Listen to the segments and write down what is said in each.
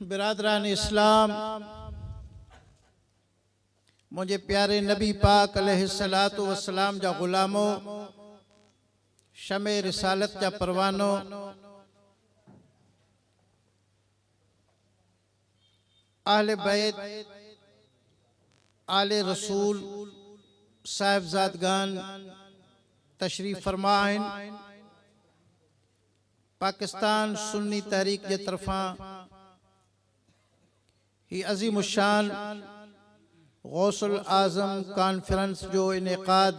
برادران اسلام منهنجي پياري نبي پاڪ عليه الصلات والسلام جا غلامو شمع رسالت جا پروانو اهل بيت، آل رسول، صاحبزادگان تشريف فرما آهن. پاڪستان سني تحريڪ جي طرفان هي عظيم الشان غوث الاعظم ڪانفرنس جو انعقاد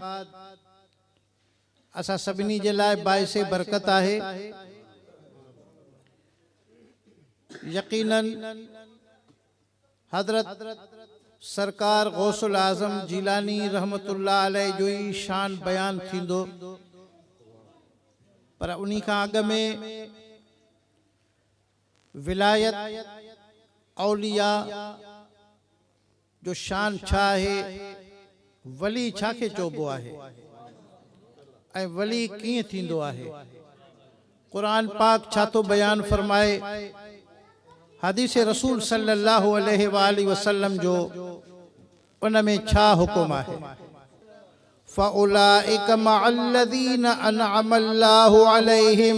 اسان سڀني جي لاء باعث برڪت آهي. يقينن حضرت سرڪار غوث الاعظم جيلاني رحمة الله عليه جو ئي شان بيان ٿيندو پر انهي کان اڳ ۾ ولايت اولياء جو شان ڇا آهي؟ ولي ڇا کي چئبو آهي؟ ۽ ولي ڪيئن ٿيندو آهي؟ قرآن پاڪ ڇا ٿو بيان فرمائي؟ حديث رسول صلي الله عليه واٰله وسلم جو ان ۾ ڇا حڪم آهي؟ فأولئک مع الذين انعم الله عليهم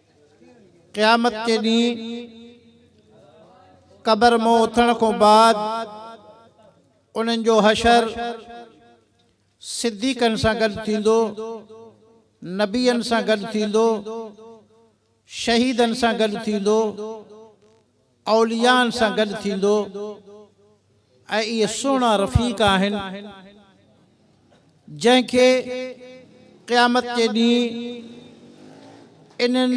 قيامت جي ڏينهن قبر مون اٿڻ کان بعد انهن جو حشر صديقن سان گڏ ٿيندو نبين سان گڏ ٿيندو شهيدن سان گڏ ٿيندو اوليائن سان گڏ ٿيندو ۽ اهي سهڻا رفيق آهن جنهن کي قيامت جي ڏينهن انهن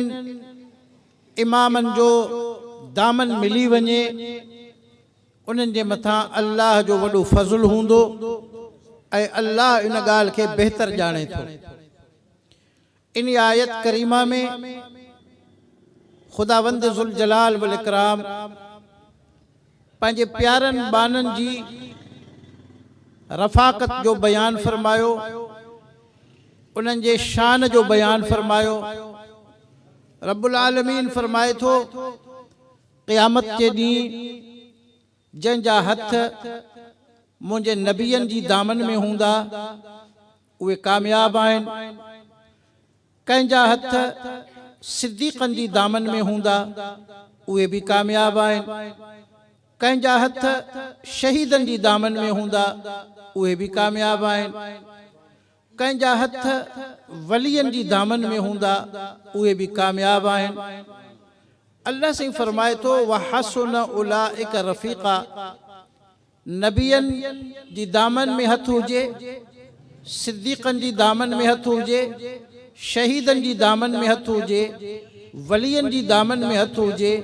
امامن جو دامن ملي وڃي انهن جي مٿان الله جو وڏو فضل هوندو ۽ الله ان ڳالهه کي بهتر ڄاڻي ٿو. ان آيت ڪريمه ۾ خداوند ذوالجلال والاڪرام پنهنجي پيارن ٻانهن جي رفاقت جو بيان فرمايو انهن جي شان جو بيان فرمايو رب العالمين فرمائي ٿو قيامت جي ڏينهن جنهن جا هٿ منهنجي نبين جي دامن ۾ هوندا اهي ڪامياب آهن، ڪنهن جا هٿ صديقن جي دامن ۾ هوندا، اهي به ڪامياب آهن، ڪنهن جا هٿ شهيدن جي دامن ۾ هوندا، اهي به ڪامياب آهن، ڪنهن جا هٿ ولين جي دامن ۾ هوندا، اهي به ڪامياب آهن. الله سائين فرمائي ٿو، وحسن اولئک رفيقا. نبين جي دامن ۾ هٿ هجي، صديقن جي دامن ۾ هٿ هجي، شهيدن جي دامن ۾ هٿ هجي، ولين جي دامن ۾ هٿ هجي،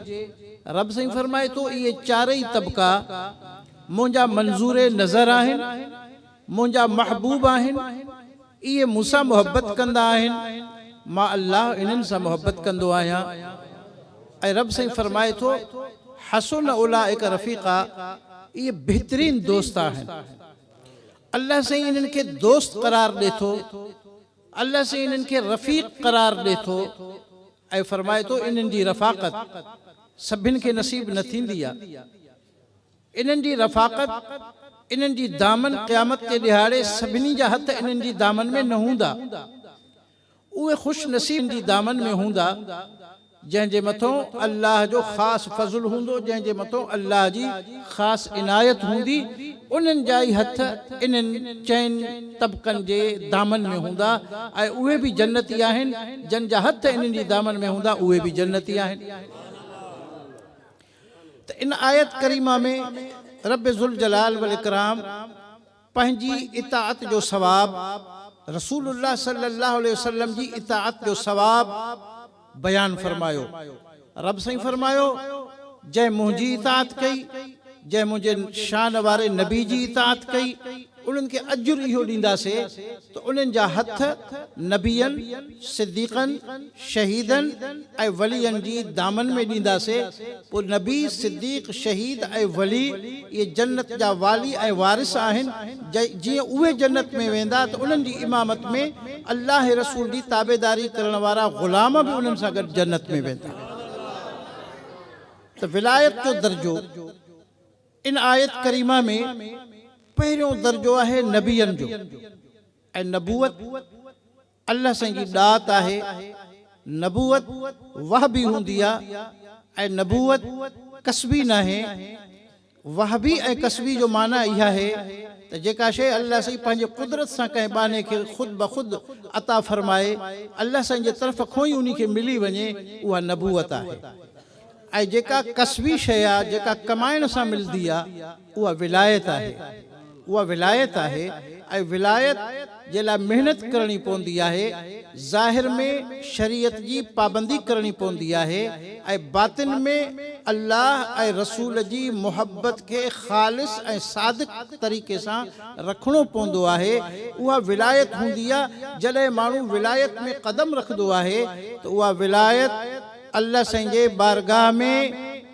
رب سائين فرمائي ٿو اهي چارئي طبقا منهنجا منظور نظر آهن، منهنجا محبوب آهن، اهي مون سان محبت ڪندا آهن، مان الله انهن سان محبت ڪندو آهيان ۽ رب سائين فرمائي ٿو، حسن اولئک رفيقا، اهي بهترين دوست آهن. الله سائين انهن کي دوست قرار ڏي ٿو، الله سائين انهن کي رفيق قرار ڏي ٿو ۽ فرمائي ٿو، انهن جي رفاقت سڀن کي نصيب نه ٿيندي آهي. انهن جي رفاقت، انهن جي دامن قيامت جي ڏهاڙي سڀني جا هٿ انهن جي دامن ۾ نه هوندا. اهي خوش نصيب انهن جي دامن ۾ هوندا، جنهن جي مٿون الله جو خاص فضل هوندو، جنهن جي مٿون الله جي خاص عنايت هوندي، انهن جا ئي هٿ انهن چئن طبقن جي دامن ۾ هوندا ۽ اهي به جنتي آهن، جن جا هٿ انهن جي دامن ۾ هوندا، اهي به جنتي آهن. ته ان آيت ڪريمه ۾ رب ذوالجلال والاڪرام پنهنجي اطاعت جو ثواب رسول الله صلي الله عليه وسلم جي اطاعت جو ثواب بيان فرمايو رب سائين فرمايو جنهن منهنجي اطاعت ڪئي جنهن منهنجي شان واري نبي جي اطاعت ڪئي انهن کي اجر اهو ڏينداسين ته انهن جا هٿ نبين، صديقن، شهيدن ۽ ولين جي دامن ۾ ڏينداسين، پوء نبي، صديق، شهيد ۽ ولي اهي جنت جا والي ۽ وارث آهن، جيئن اهي جنت ۾ ويندا ته انهن جي امامت ۾ الله رسول جي تابعداري ڪرڻ وارا غلام به انهن سان گڏ جنت ۾ ويندا. ته ولايت جو درجو. ان آيت ڪريمه ۾ پهريون درجو آهي نبين جو ۽ نبوت الله سائين جي ڏات آهي، نبوت وهبي هوندي آ ۽ نبوت ڪسبي ناهي، وهبي ۽ ڪسبي جو معنيٰ اها آهي ته جيڪا شيء الله سائين پنهنجي قدرت سان ڪنهن ٻانهي کي خود بخود عطا فرمائي الله سائين جي طرف کونئي انهي کي ملي وڃي اها نبوت آهي. ۽ جيڪا ڪسبي شيء آ، جيڪا ڪمائڻ سان ملدي آ، اها ولايت آهي. اها ولايت آهي ۽ ولايت جي لاء محنت ڪرڻي پوندي آهي. ظاهر ۾ شريعت جي پابندي ڪرڻي پوندي آهي ۽ باطن ۾ الله ۽ رسول جي محبت کي خالص ۽ صادق طريقي سان رکڻو پوندو آهي. اها ولايت هوندي آ. جڏهن ماڻهو ولايت ۾ قدم رکدو آهي ته اها ولايت. الله سائين جي بارگاھ ۾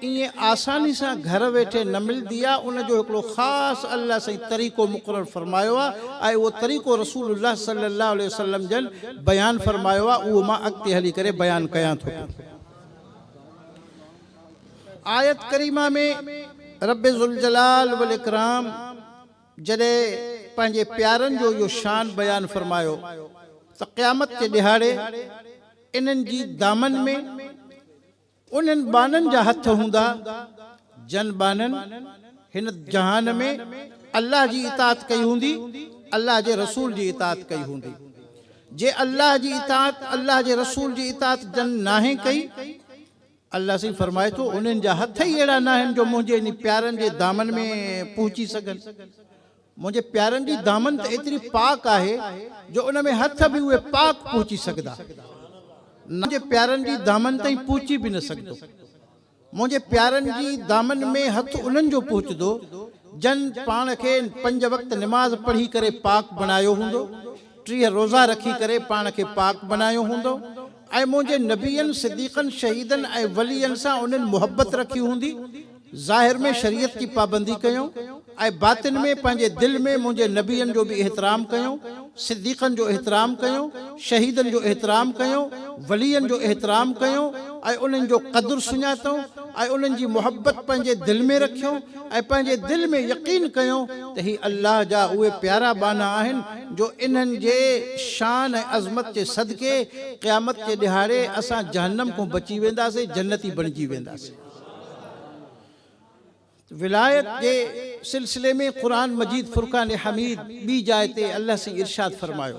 ائين آساني سان گهر ويٺي نه ملدي آ ان جو هڪڙو خاص الله سائين طريقو مقرر فرمايو آ ۽ اهو طريقو رسول الله صلي الله عليه وسلم جن بيان فرمايو آ اهو مان اڳتي هلي ڪري بيان ڪيان ٿو پيو آيت ڪريمه ۾ رب ذوالجلال والاڪرام جڏهن پنهنجي پيارن جو اهو شان بيان فرمايو ته قيامت جي ڏهاڙي انهن جي دامن ۾ انهن ٻانهن جا هٿ هوندا جن ٻانهن هن جهان ۾ الله جي اطاعت ڪئي هوندي الله جي رسول جي اطاعت ڪئي هوندي جي الله جي اطاعت الله جي رسول جي اطاعت جن ناهي ڪئي الله سائين فرمائي ٿو، انهن جا هٿ ئي اهڙا ناهن جو منهنجي انهي پيارن جي دامن ۾ پهچي سگهن. منهنجي پيارن جي دامن ته ايتري پاڪ آهي جو ان ۾ هٿ به اهي پاڪ پهچي سگهندا نه منهنجي پيارن جي دامن تائين پهچي به نه سگهندو. منهنجي پيارن جي دامن ۾ هٿ انهن جو پهچندو جن پاڻ کي پنج وقت نماز پڙهي ڪري پاڪ بڻايو هوندو، ٽيهه روزا رکي ڪري پاڻ کي پاڪ بڻايو هوندو، ۽ منهنجي نبين، صديقن، شهيدن ۽ ولين سان انهن محبت رکي هوندي، ظاهر ۾ شريعت جي پابندي ڪيون ۽ باطن ۾ پنهنجي دل ۾ منهنجي نبين جو به احترام ڪيون، صديقن جو احترام ڪيون، شهيدن جو احترام ڪيون، ولين جو احترام ڪيون ۽ انهن جو قدر سڃاتئون ۽ انهن جي محبت پنهنجي دل ۾ رکيون. ۽ پنهنجي دل ۾ يقين ڪيو ته هي الله جا اهي پيارا ٻانها آهن جو انهن جي شان ۽ عظمت جي صدقي قيامت جي ڏهاڙي اسان جهنم کون بچي وينداسين جنتي بڻجي وينداسين. ولايت جي سلسلي ۾ قرآن مجيد فرقان حميد ٻي جاء تي الله سائين ارشاد فرمايو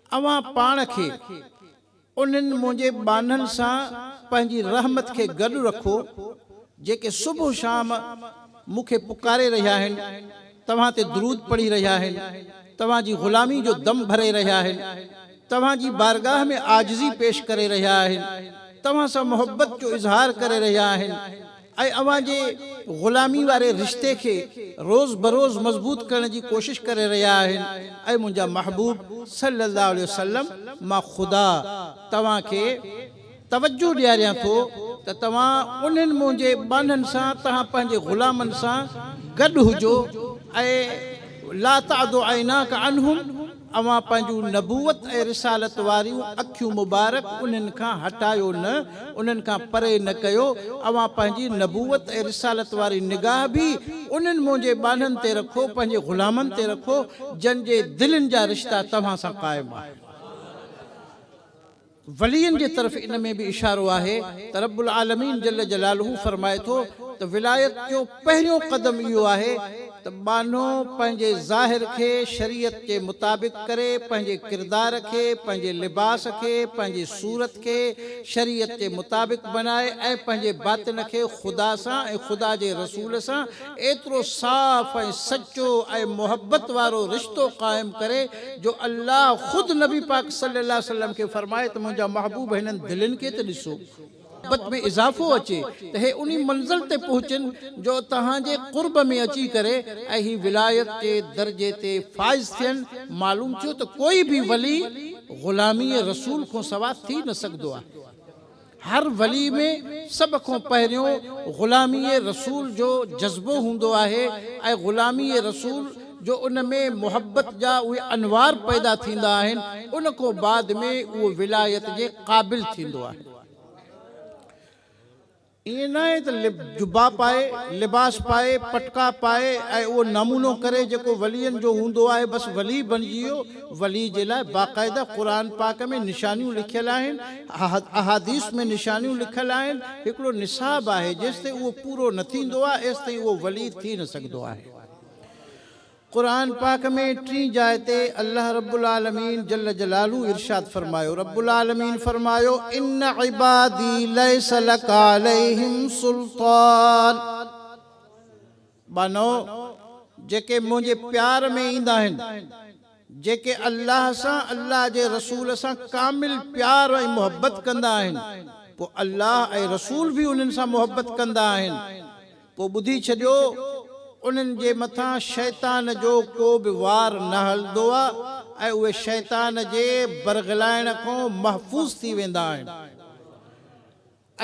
اوهان پاڻ کي انهن منهنجي ٻانهن سان پنهنجي رحمت کي گڏ رکو، جيڪي صبح و شام مون کي پڪاري رهيا آهن، توهان تي درود پڙهي رهيا آهن، توهان جي غلامي جو دم ڀري رهيا آهن، توهان جي بارگاهه ۾ عاجزي پيش ڪري رهيا آهن، توهان سان محبت جو اظهار ڪري رهيا آهن. ۽ اوهان جي غلامي واري رشتي کي روز بروز مضبوط ڪرڻ جي ڪوشش ڪري رهيا آهن اي منهنجا محبوب صلّي اللّٰه عليه وسلّم مان خدا توهان کي توجه ڏياريان ٿو ته توهان انهن منهنجي ٻانهن سان توهان پنهنجي غلامن سان گڏ هجو ۽ لا تعد عيناڪ عنهم اوهان پنهنجون نبوت ۽ رسالت واريون اکيون مبارڪ انهن کان هٽايو نه، انهن کان پري نه ڪيو، اوهان پنهنجي نبوت ۽ رسالت واري نگاهه به انهن منهنجي ٻانهن تي رکو، پنهنجي غلامن تي رکو، جن جي دلين جا رشتا توهان سان قائم آهن. ولين جي طرف ان ۾ به اشارو آهي ته رب العالمين جل جلاله فرمائي ٿو ته ولايت جو پهريون قدم اهو آهي ته ٻانهو پنهنجي ظاهر کي شريعت جي مطابق ڪري، پنهنجي ڪردار کي، پنهنجي لباس کي، پنهنجي صورت کي شريعت جي مطابق بنائي ۽ پنهنجي باطن کي خدا سان ۽ خدا جي رسول سان ايترو صاف ۽ سچو ۽ محبت وارو رشتو قائم ڪري جو الله خود نبي پاڪ صلي الله عليه وسلم کي فرمائي ته منهنجا محبوب هنن دلين کي ته ڏسو. محبت ۾ اضافو اچي ته هي انهي منزل تي پهچن جو توهان جي قرب ۾ اچي ڪري ۽ هي ولايت جي درجي تي فائز ٿين معلوم ٿيو ته ڪوئي به ولي غلامي رسول کانسوا ٿي نه سگهدو آهي. هر ولي ۾ سڀ کان پهريون غلامي رسول جو جذبو هوندو آهي ۽ غلامي رسول جو ان ۾ محبت جا اهي انوار پيدا ٿيندا آهن ان کان بعد ۾ اهو ولايت جي قابل ٿيندو آهي. ائين ناهي ته جبا پائي، لباس پائي، پٽڪا پائي ۽ اهو نمونو ڪري جيڪو ولين جو هوندو آهي بس ولي بڻجي ويو، ولي جي لاء باقاعده قرآن پاڪ ۾ نشانيون لکيل آهن، احاديث ۾ نشانيون لکيل آهن، هڪڙو نصاب آهي جيستائين اهو پورو نه ٿيندو آهي ايستائين اهو ولي ٿي نه سگهندو آهي. قرآن پاڪ ۾ ٽين جاء تي الله رب العالمين جل جلاله ارشاد فرمايو، رب العالمين فرمايو، ان عبادي ليس لڪ عليهم سلطان. ٻانهو، جيڪي منهنجي پيار ۾ ايندا آهن، جيڪي الله سان الله جي رسول سان ڪامل پيار ۽ محبت ڪندا آهن، پوء الله ۽ رسول به انهن سان محبت ڪندا آهن، پوء ٻڌي ڇڏيو، انهن جي مٿان شيطان جو ڪو به وار نه هلندو آ ۽ اهي شيطان جي برغلائڻ کان محفوظ ٿي ويندا آهن.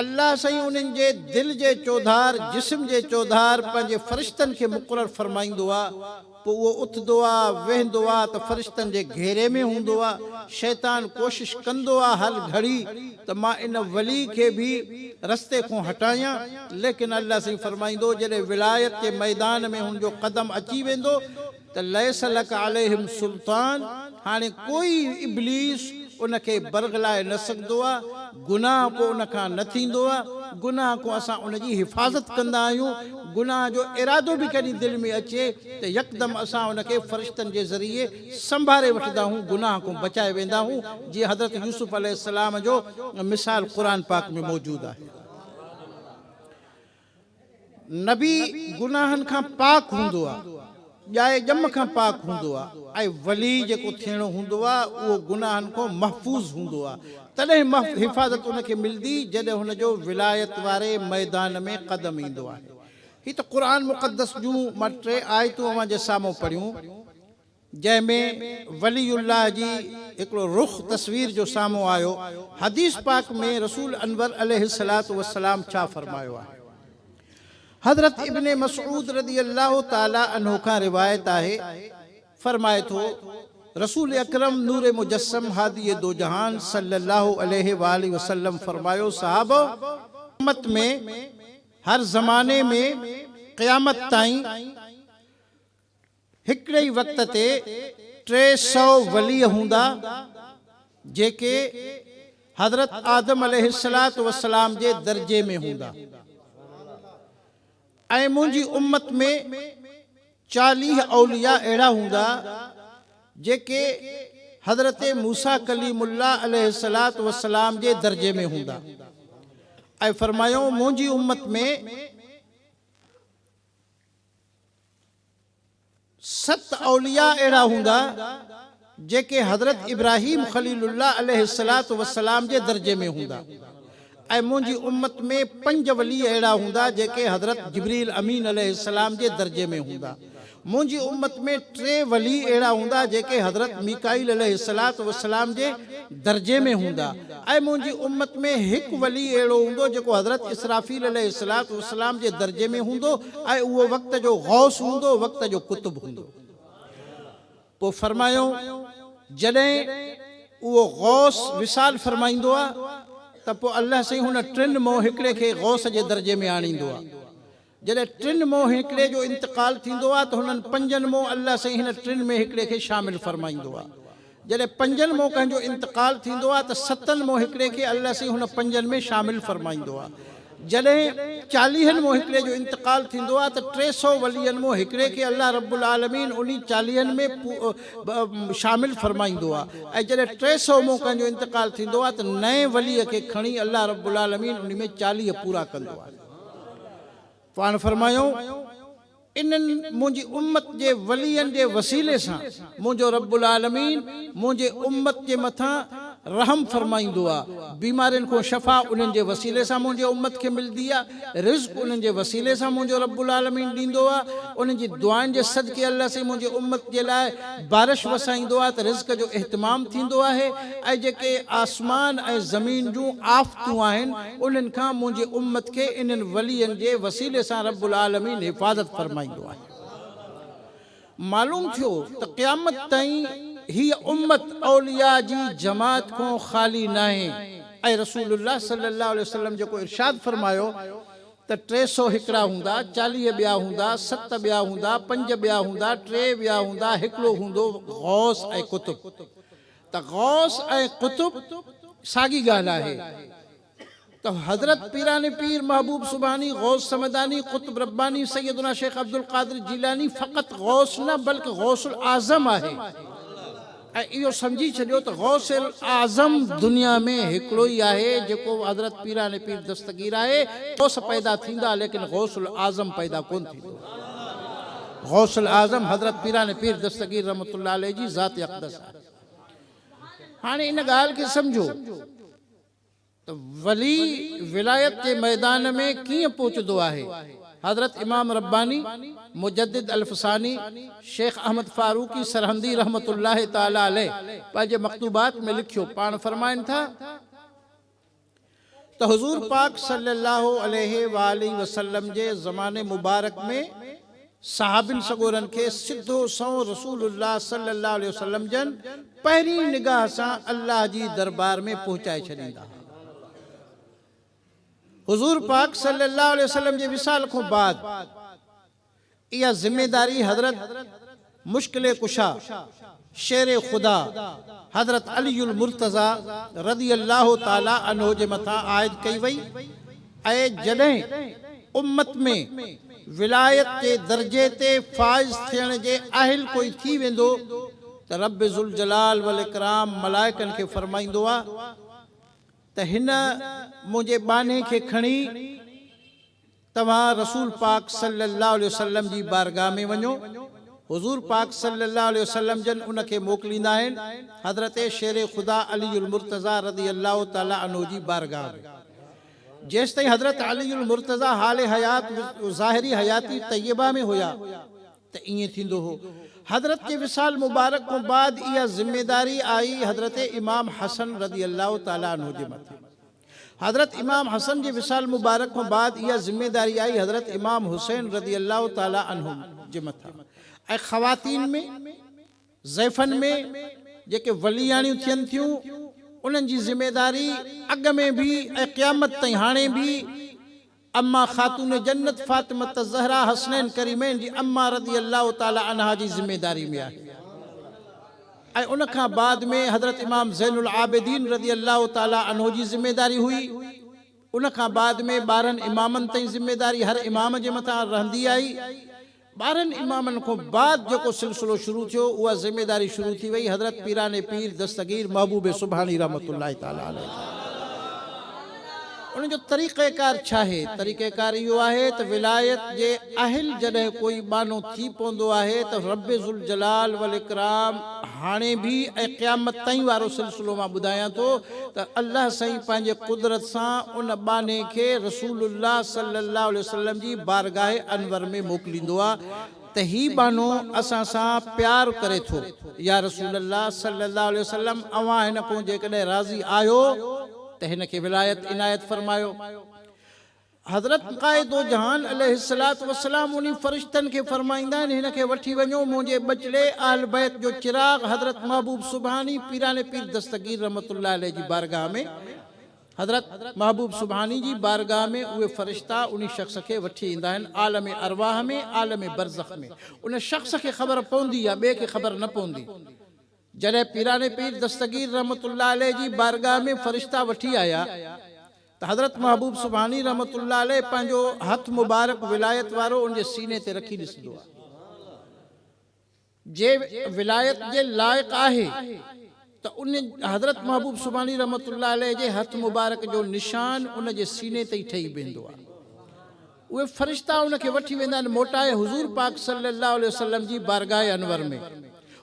الله سائين انهن جي دل جي چوڌار، جسم جي چوڌار پنهنجي فرشتن کي مقرر فرمائيندو آ، پوء اهو اٿندو آ، ويهندو آ ته فرشتن جي گهيري ۾ هوندو آ، شيطان ڪوشش ڪندو آ هر گهڙي ته مان ان ولي کي به رستي کون هٽايان، ليڪن الله سائين فرمائيندو جڏهن ولايت جي ميدان ۾ هن جو قدم اچي ويندو ته ليس لڪ عليهم سلطان هاڻي ڪوئي ابليس ان کي برغلائي نه سگهندو آ گناهه پوء ان کان نه ٿيندو آ گناهه کون اسان ان جي حفاظت ڪندا آهيون گناهه جو ارادو به ڪڏهن دل ۾ اچي ته يڪدم اسان ان کي فرشتن جي ذريعي سنڀاري وٺندا آهون گناهه کون بچائي ويندا آهون جيئن حضرت يوسف عليه السلام جو مثال قرآن پاڪ ۾ موجود آهي. نبي گناهن کان پاڪ هوندو آ، ڄائي ڄم کان پاڪ هوندو آ ۽ ولي جيڪو ٿيڻو هوندو آ اهو گناهن کان محفوظ هوندو آ، تڏهن حفاظت ان کي ملدي جڏهن هن جو ولايت واري ميدان ۾ قدم ايندو آهي. هي ته قرآن مقدس جون ٻه ٽي آيتون اوهان جي سامهون پڙهيون. جنهن ۾ ولي الله جي هڪڙو رخ تصوير جو سامهون آيو، حديث پاڪ ۾ رسول انور عليه الصلوة والسلام ڇا فرمايو آهي؟ حضرت ابن مسعود رضي الله تعالٰي عنه کان روايت آهي، فرمائي ٿو، رسول اڪرم نور مجسم هادي دوجهان صلّي الله عليه واٰله وسلّم فرمايو، صحابؤ! امّت ۾ هر زماني ۾ قيامت تائين هڪڙي ئي وقت تي ٽي سؤ ولي هوندا، جيڪي حضرت آدم عليه الصلوة والسلام جي درجي ۾ هوندا ۽ منهنجي امت ۾ چاليهه اولياء اهڙا هوندا، جيڪي حضرت موسيٰ ڪليم الله عليه الصلوة والسلام جي درجي ۾ هوندا ۽ فرمايائون منهنجي امت ۾. ست اولياء اهڙا هوندا جيڪي حضرت ابراهيم خليل الله عليه الصلوة والسلام جي درجي ۾ هوندا ۽ منهنجي امت ۾ پنج ولي اهڙا هوندا جيڪي حضرت جبريل امين عليه السلام جي درجي ۾ هوندا منهنجي امت ۾ ٽي ولي اهڙا هوندا جيڪي حضرت ميڪائيل عليه الصلوة والسلام جي درجي ۾ هوندا ۽ منهنجي امت ۾ هڪ ولي اهڙو هوندو جيڪو حضرت اسرافيل عليه الصلوة والسلام جي درجي ۾ هوندو ۽ اهو وقت جو غوث هوندو، وقت جو قطب هوندو. پوء فرمايو، جڏهن اهو غوث وصال فرمائيندو آ ته پوء الله سائين هن ٽن مئو هڪڙي کي غوث جي درجي ۾ آڻيندو آ. جڏهن ٽن مون هڪڙي جو انتقال ٿيندو آهي ته هنن پنجن مون الله سائين هن ٽن ۾ هڪڙي کي شامل فرمائيندو آهي. جڏهن پنجن مون ڪنهن جو انتقال ٿيندو آهي ته ستن مون هڪڙي کي الله سائين هن پنجن ۾ شامل فرمائيندو آهي. جڏهن چاليهن مون هڪڙي جو انتقال ٿيندو آهي ته ٽي سؤ ولين مون هڪڙي کي الله رب العالمين انهي چاليهن ۾ شامل فرمائيندو آهي ۽ جڏهن ٽي سؤ مون ڪنهن جو انتقال ٿيندو آهي ته نئين ولي کي کڻي الله رب العالمين انهي ۾ چاليهه پورا ڪندو آهي. پاڻ فرمايو، انهن، منهنجي امت جي ولين جي وسيلي سان، منهنجو رب العالمين منهنجي امت جي مٿان رحم فرمائيندو آ، بيمارين کون شفا انهن جي وسيلي سان منهنجي امت کي ملدي آ، رزق انهن جي وسيلي سان منهنجو رب العالمين ڏيندو آ، انهن جي دعائن جي صدقي الله سائين منهنجي امت جي لاء بارش وسائيندو آ ته رزق جو اهتمام ٿيندو آهي ۽ جيڪي آسمان ۽ زمين جون آفتون آهن، انهن کان منهنجي امت کي انهن ولين جي وسيلي سان رب العالمين حفاظت فرمائيندو آهي. معلوم ٿيو ته قيامت تائين هيء امت اولياء جي جماعت کون خالي ناهي ۽ رسول الله صلي الله عليه وسلم جيڪو ارشاد فرمايو ته ٽي سؤ هڪڙا هوندا، چاليهه ٻيا هوندا، ست ٻيا هوندا، پنج ٻيا هوندا، ٽي ٻيا هوندا، هڪڙو هوندو غوث ۽ قطب. ته غوث ۽ قطب ساڳي ڳالهه آهي ته حضرت پيران پير محبوب سبحاني، غوث صمداني، قطب رباني سيدنا شيخ عبدالقادر جيلاني فقط غوث نه بلڪ غوث الاعظم آهي ۽ اهو سمجهي ڇڏيو ته غوث الاعظم دنيا ۾ هڪڙو ئي آهي جيڪو حضرت پيران پير دستگير آهي غوث پيدا ٿيندا ليڪن غوث الاعظم پيدا ڪونه ٿيندو غوث الاعظم حضرت پيران پير دستگير رحمة الله عليه جي ذات اقدس آهي. هاڻي ان ڳالهه کي سمجهو ته ولي ولايت جي ميدان ۾ ڪيئن پهچندو آهي. حضرت امام رباني، مجدد الف ثاني، شيخ احمد فاروقي سرهندي رحمة الله تعالٰي عليه پنهنجي مڪتوبات ۾ لکيو، پاڻ فرمائن ٿا. ته حضور پاڪ صلي الله عليه واٰله وسلم جي زماني مبارڪ ۾ صحابين سڳورن کي سڌو سنئون رسول الله صلي الله عليه وسلم جن پهرين نگاهه سان الله جي دربار ۾ پهچائي ڇڏيندا ها. حضور پاڪ صلي الله عليه وسلم جي وصال کون بعد، اها ذميداري حضرت مشڪل ڪشا شير خدا حضرت علي المرتضيٰ رضي الله تعاليٰ عنه جي مٿان عائد ڪئي وئي ۽ جڏهن امت ۾ ولايت جي درجي تي فائز ٿيڻ جي اهل ڪوئي ٿي ويندو ته رب ذوالجلال والاڪرام ملائڪن کي فرمائيندو آ ته هن منهنجي ٻانهي کي کڻي توهان رسول پاڪ صلّي اللّٰه عليه وسلّم جي بارگاھ ۾ وڃو، حضور پاڪ صلّي اللّٰه عليه وسلّم جن ان کي موڪليندا آهن، حضرت شير خدا علي المرتضٰي رضي اللّٰه تعالٰي عنه جي بارگاھ ۾. جيستائين حضرت علي المرتضٰي حال حيات و ظاهري حياتي طيّبه ۾ هيا ته ائين ٿيندو هو. حضرت جي وصال مبارڪ کان بعد اها ذميداري آئي حضرت امام حسن رضي اللّٰه تعالٰي عنه جي مٿي. حضرت امام حسن جي وصال مبارڪ کان بعد اها ذميداري آئي حضرت امام حسين رضي الله تعالٰي عنه جي مٿان ۽ خواتين ۾، ضعيفن ۾، جيڪي ولياڻيون ٿين ٿيون انهن جي ذميداري اڳ ۾ به ۽ قيامت تائين هاڻي به، اما خاتون جنت فاطمة الزهراء حسنين ڪريمين جي اما رضي الله تعالي عنها جي ذميداري ۾ آهي ۽ ان کان بعد ۾ حضرت امام زين العابدين رضي الله تعالي عنه جي ذميداري هئي ان کان بعد ۾ ٻارهن امامن تائين ذميداري هر امام جي مٿان رهندي آئي ٻارهن امامن کون بعد جيڪو سلسلو شروع ٿيو، اها ذميداري شروع ٿي وئي حضرت پيران پير دستگير محبوب سبحاني رحمة الله تعالٰي عليه تان. ان جو طريقه ڪار ڇاهي؟ طريقه ڪار اهو آهي ته ولايت جي اهل جڏهن ڪوئي ٻانهو ٿي پوندو آهي ته رب ذوالجلال والاڪرام هاڻي به ۽ قيامت تائين وارو سلسلو مان ٻڌايان ٿو ته الله سائين پنهنجي قدرت سان ان ٻانهي کي رسول الله صلي الله عليه وسلم جي بارگاهه انور ۾ موڪليندو آ ته هي ٻانهو اسان سان پيار ڪري ٿو يا رسول الله صلي الله عليه وسلم اوهان هن کون جيڪڏهن راضي آهيو ته هن کي ولايت عنايت فرمايو. حضرت قائد دوجهان عليه الصلوة والسلام انهي فرشتن کي فرمائيندا آهن، هن کي وٺي وڃو، منهنجي ٻچڙي اهل بيت جو چراغ حضرت محبوب سبحاني پيراڻي پير دستگير رحمة الله عليه جي بارگاهه ۾، حضرت محبوب سبحاني جي بارگاهه ۾ اهي فرشتا انهي شخص کي وٺي ايندا آهن، عالم ارواح ۾، عالم برزخ ۾، ان شخص کي خبر پوندي يا ٻئي کي خبر نه پوندي. جڏهن پيراڻي پير دستگير رحمة الله عليه جي بارگاهه ۾ فرشتا وٺي آيا ته حضرت محبوب سبحاني رحمة الله عليه پنهنجو هٿ مبارڪ ولايت وارو ان جي سيني تي رکي ڏسندو آهي جي ولايت جي لائق آهي ته ان حضرت محبوب سبحاني رحمة الله عليه جي هٿ مبارڪ جو نشان ان جي سيني تي ئي ٺهي بيهندو آهي. اهي فرشتا ان کي وٺي ويندا آهن موٽائي حضور پاڪ صلّي اللّٰه عليه وسلّم جي بارگاهه انور ۾.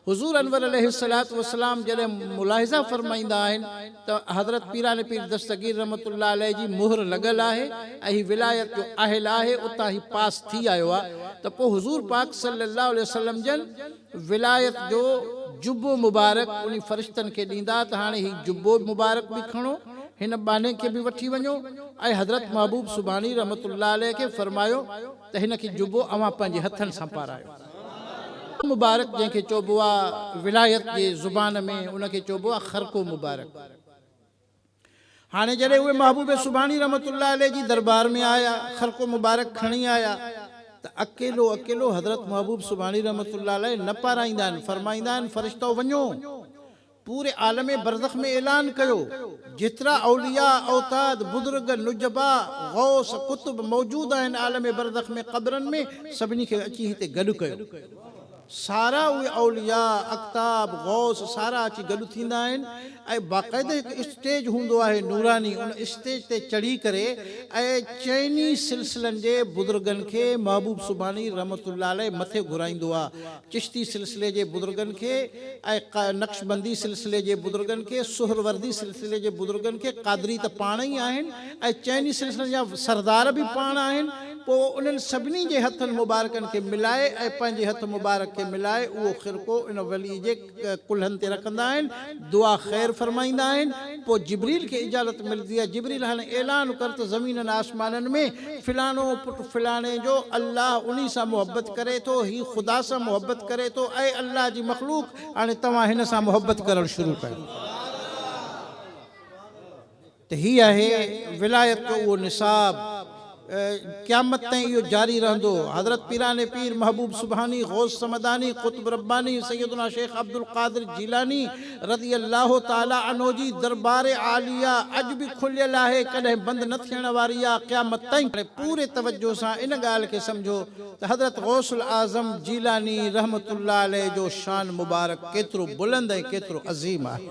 حضور انور عليه الصلوة والسلام جڏهن ملاحظه فرمائيندا آهن ته حضرت پيران پير دستگير رحمة الله عليه جي مهر لڳل آهي ۽ هي ولايت جو اهل آهي اتان هي پاس ٿي آيو آهي ته پوء حضور پاڪ صلّي اللّٰه عليه وسلّم جن ولايت جو جبو مبارڪ انهي فرشتن کي ڏيندا ته هاڻي هي جبو مبارڪ به کڻو، هن ٻانهي کي به وٺي وڃو ۽ حضرت محبوب سبحاني رحمة الله عليه کي فرمايو ته هن کي جبو اوهان پنهنجي هٿن سان پارايو. جبو مبارڪ جنهن کي چئبو آهي، ولايت جي زبان ۾ ان کي چئبو آهي خرقو مبارڪ. هاڻي جڏهن اهي محبوب سبحاني رحمة الله عليه جي دربار ۾ آيا، خرقو مبارڪ کڻي آيا ته اڪيلو اڪيلو حضرت محبوب سبحاني رحمة الله عليه نه پارائيندا آهن، فرمائيندا آهن، فرشتؤ وڃو پوري عالم برزخ ۾ اعلان ڪيو، جيترا اولياء، اوتاد، بزرگ، نجباء، غوث، قطب موجود آهن عالم برزخ ۾، قبرن ۾، سڀني کي اچي هتي گڏ ڪيو. سارا اهي اولياء، اقطاب، غوث سارا اچي گڏ ٿيندا آهن ۽ باقاعده هڪ اسٽيج هوندو آهي نوراني ان اسٽيج تي چڙهي ڪري ۽ چئني سلسلن جي بزرگن کي محبوب سبحاني رحمة الله عليه مٿي گهرائيندو آ چشتي سلسلي جي بزرگن کي ۽ نقشبندي سلسلي جي بزرگن کي سهروردي سلسلي جي بزرگن کي قادري ته پاڻ ئي آهن ۽ چئني سلسلن جا سردار به پاڻ آهن پوء انهن سڀني جي هٿن مبارڪن کي ملائي ۽ پنهنجي هٿ مبارڪ کي ملائي اهو خرقو ان ولي جي ڪلهن تي رکندا آهن، دعا خير فرمائيندا آهن، پوء جبريل کي اجازت ملدي آهي، جبريل هاڻي اعلان ڪر ته زمينن آسمانن ۾ فلاڻو پٽ فلاڻي جو الله انهي سان محبت ڪري ٿو، هي خدا سان محبت ڪري ٿو، اي الله جي مخلوق هاڻي توهان هن سان محبت ڪرڻ شروع ڪيو. ته هي آهي ولايت جو اهو نصاب قيامت تائين اهو جاري رهندو حضرت پيران پير محبوب سبحاني غوث صمداني قطب رباني سيدنا شيخ عبدالقادر جيلاني رضي الله تعالي عنه جي دربار عاليه اڄ به کليل آهي ڪڏهن بند نه ٿيڻ واري آهي قيامت تائين هاڻي پوري توجه سان ان ڳالهه کي سمجهو ته حضرت غوث الاعظم جيلاني رحمة الله عليه جو شان مبارڪ ڪيترو بلند ۽ ڪيترو عظيم آهي.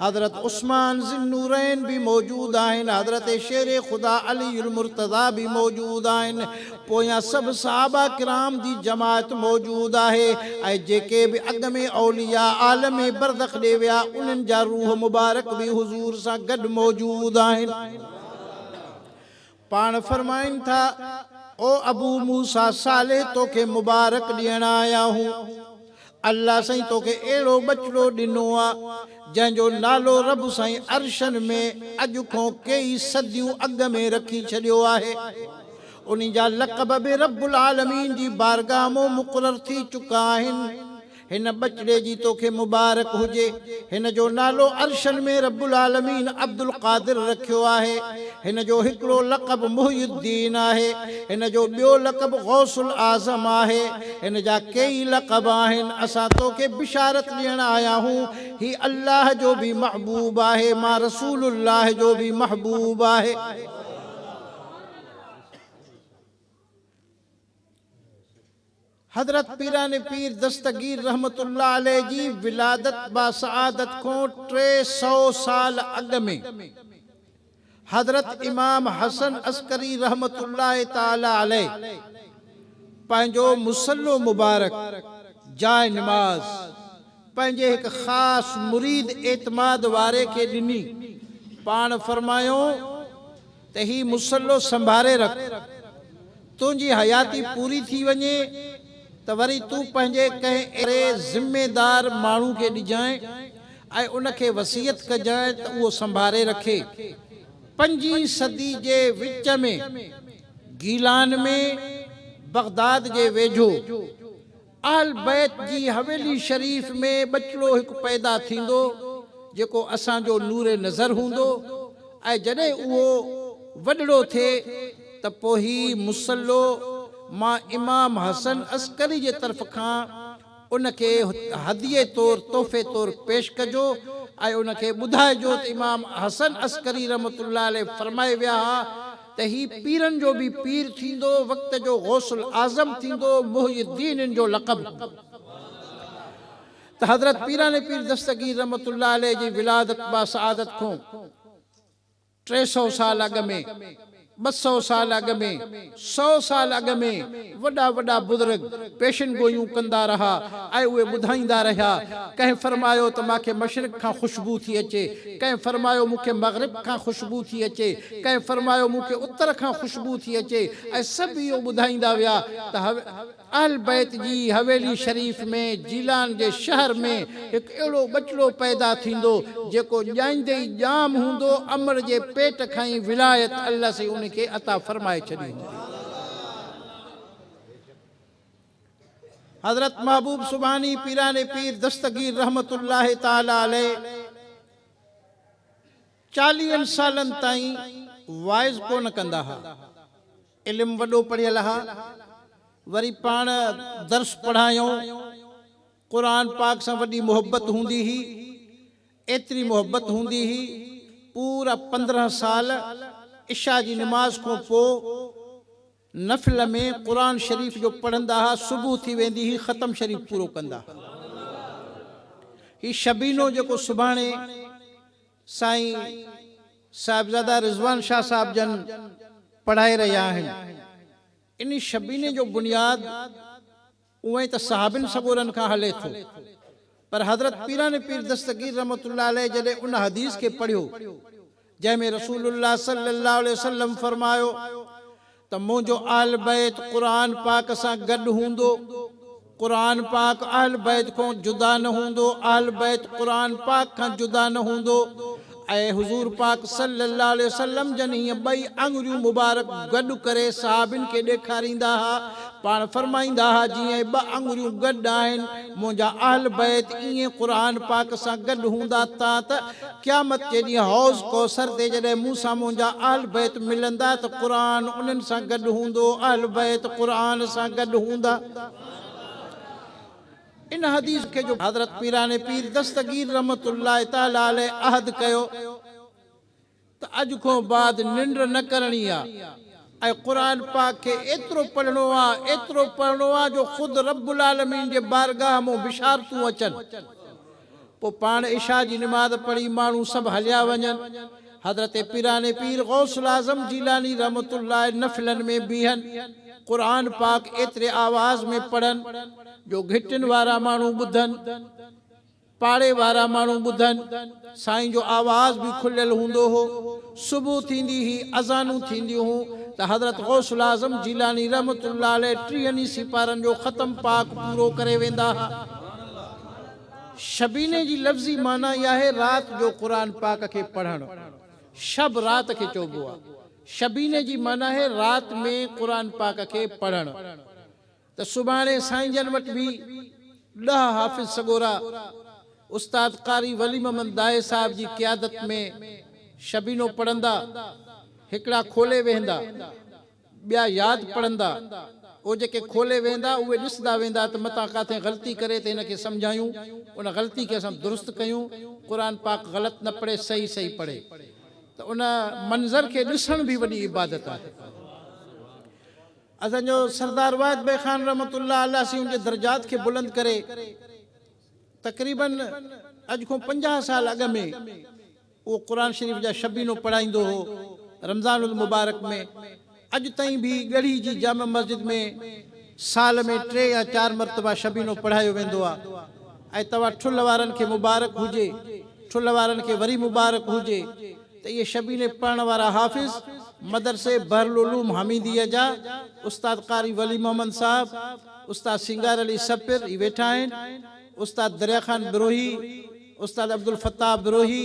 حضرت عثمان ذي النورين به موجود آهن، حضرت شير خدا علي المرتضيٰ به موجود آهن، پويان سڀ صحابه ڪرام جي جماعت موجود آهي ۽ جيڪي به اڳ ۾ اولياء عالم برزخ ڏي ويا انهن جا روح مبارڪ به حضور سان گڏ موجود آهن. پاڻ فرمائن ٿا، او ابو موسيٰ صالح توکي مبارڪ ڏيڻ آيا هون، الله سائين توکي اهڙو ٻچڙو ڏنو آ، جنهن جو نالو رب سائين عرشن ۾ اڄ کون ڪيئي صديون اڳ ۾ رکي ڇڏيو آهي. انهي جا لقب به رب العالمين جي بارگاهه مون مقرر ٿي چڪا آهن. هن ٻچڙي جي توکي مبارڪ هجي. هن جو نالو عرشن ۾ رب العالمين عبدالقادر رکيو آهي. هن جو هڪڙو لقب محي الدين آهي. هن جو ٻيو لقب غوث الاعظم آهي. هن جا ڪيئي لقب آهن. اسان توکي بشارت ڏيڻ آيا آهيون. هي الله جو به محبوب آهي. مان رسول الله جو به محبوب آهي. حضرت پيراڻي پير دستگير رحمة الله عليه جي ولادت باسعادت کون ٽي سؤ سال اڳ ۾، حضرت امام حسن عسڪري رحمة الله تعالي عليه پنهنجو مصلو مبارڪ، جاء نماز، پنهنجي هڪ خاص مريد اعتماد واري کي ڏني، پاڻ فرمايو، ته هي مصلو سنڀاري رک، تنهنجي حياتي پوري ٿي وڃي ته وري تون پنهنجي ڪنهن اهڙي ذميدار ماڻهو کي ڏجانء ۽ ان کي وصيت ڪجانء ته اهو سنڀاري رکي. پنجين صدي جي وچ ۾ گيلان ۾ بغداد جي ويجهو، اهل بيت جي حويلي شريف ۾ ٻچڙو هڪ پيدا ٿيندو جيڪو اسان جو نور نظر هوندو ۽ جڏهن اهو وڏڙو ٿئي ته پوء هي مصلو مان امام حسن عسڪري جي طرف کان ان کي هديي طور تحفي طور پيش ڪجو ۽ ان کي ٻڌائجو ته امام حسن عسڪري رحمة الله عليه فرمائي ويا ها ته هي پيرن جو به پير ٿيندو، وقت جو غوث الاعظم ٿيندو، محي الدين هن جو لقب هوندو. ته حضرت پيران پير دستگير رحمة الله عليه جي ولادت با سعادت کون ٽي سئو سال اڳ ۾، ٻه سئو سال اڳ ۾، سئو سال اڳ ۾ وڏا وڏا بزرگ پيشن گوئيون ڪندا رها ۽ اهي ٻڌائيندا رهيا. ڪنهن فرمايو ته مان کي مشرق کان خوشبو ٿي اچي، ڪنهن فرمايو مون کي مغرب کان خوشبو ٿي اچي، ڪنهن فرمايو مون کي اتر کان خوشبو ٿي اچي ۽ سڀ اهو ٻڌائيندا ويا ته اهل بيت جي حويلي شريف ۾ جيلان جي شهر ۾ هڪ اهڙو ٻچڙو پيدا ٿيندو جيڪو ڄائيندي ئي ڄام هوندو امڙ جي پيٽ کان ئي ولايت الله سائين ان کي عطا فرمائي ڇڏي هوندي. حضرت محبوب سبحاني پيران پير دستگير رحمة الله تعالٰي عليه. چاليهن سالن تائين واعظ ڪونه ڪندا ها. علم وڏو پڙهيل ها. وري پاڻ درس پڙهايئون. قرآن پاڪ سان وڏي محبت هوندي هئي. ايتري محبت هوندي هئي، پورا پندرهن سال عشاء جي نماز کون پوء، نفل ۾ قرآن شريف جو پڙهندا ها صبح ٿي ويندي هي ختم شريف پورو ڪندا ها هي شبينو جيڪو سڀاڻي سائين صاحبزاده رضوان شاهه صاحب جن پڙهائي رهيا آهن ان شبيني جو بنياد اونئن ته صحابين سڳورن کان هلي ٿو، پر حضرت پيران پير دستگير رحمة الله عليه جڏهن ان حديث کي پڙهيو، جنهن ۾ رسول الله صلي الله عليه وسلم فرمايو ته منهنجو اهل بيت قرآن پاڪ سان گڏ هوندو، قرآن پاڪ اهل بيت کون جدا نه هوندو، اهل بيت قرآن پاڪ کان جدا نه هوندو، ۽ حضور پاڪ صلّي اللّٰه عليه وسلّم جن هيء ٻئي آڱريون مبارڪ گڏ ڪري صحابين کي ڏيکاريندا ها، پاڻ فرمائيندا ها، جيئن هي ٻه آڱريون گڏ آهن، منهنجا اهل بيت ايئن قرآن پاڪ سان گڏ هوندا تان ته قيامت جي ڏينهن حوض ڪوثر تي جڏهن مون سان منهنجا اهل بيت ملندا ته قرآن انهن سان گڏ هوندو، اهل بيت قرآن سان گڏ هوندا. ان حديث کي جو حضرت پيران پير دستگير رحمة الله تعالٰي عليه عهد ڪيو ته اڄ کون بعد ننڊ نه ڪرڻي آ ۽ قرآن پاڪ کي ايترو پڙهڻو آ ايترو پڙهڻو آ جو خود رب العالمين جي بارگاهه مون بشارتون اچن. پوء پاڻ عشاء جي نماز پڙهي ماڻهو سڀ هليا وڃن. حضرت پيراڻي پير غوث الاعظم جيلاني رحمة الله نفلن ۾ بيهن، قرآن پاڪ ايتري آواز ۾ پڙهن جو گهٽين وارا ماڻهو ٻڌن، پاڙي وارا ماڻهو ٻڌن. سائين جو آواز به کليل هوندو هو. صبح ٿيندي هي اذانون ٿينديون هون ته حضرت غوث الاعظم جيلاني رحمة الله عليه ٽيهن ئي سيپارن جو ختم پاڪ پورو ڪري ويندا ها. شبينه جي لفظي معنيٰ ئي آهي رات جو قرآن پاڪ کي پڙهڻ. شب رات کي چئبو آهي. شبينه جي معنيٰ آهي رات ۾ قرآن پاڪ کي پڙهڻ. ته سڀاڻي سائين جن وٽ به ڏهه حافظ سڳورا استاد قاري ولي محمد داهي صاحب جي قيادت ۾ شبينو پڙهندا. هڪڙا کولي ويهندا. ٻيا ياد پڙهندا، او جيڪي کولي ويندا، اهي ڏسندا ويندا ته متان ڪاٿي غلطي ڪري ته هن کي سمجهايون، ان غلطي کي اسان درست ڪيون، قرآن پاڪ غلط نه پڙهي صحيح صحيح پڙهي ته ان منظر کي ڏسڻ به وڏي عبادت آهي. اسان جو سردار واحد بيگ خان رحمة الله الله سين ان جي درجات کي بلند ڪري تقريبن اڄ کون پنجاهه سال اڳ ۾ اهو قرآن شريف جا شبينو پڙهائيندو هو. رمضان المبارڪ ۾ اڄ تائين به ڳڙهي جي جامع مسجد ۾ سال ۾ ٽي يا چار مرتبا شبينو پڙهايو ويندو آهي ۽ توهان ٺلهه وارن کي مبارڪ هجي ٺلهه وارن کي وري مبارڪ هجي ته اهي شبيني پڙهڻ وارا حافظ مدرسي بحرالعلوم حميديء جا استاد قاري ولي محمد صاحب استاد سينگار علي سپر هي ويٺا آهن استاد دريا خان بروهي استاد عبدالفتاح بروهي،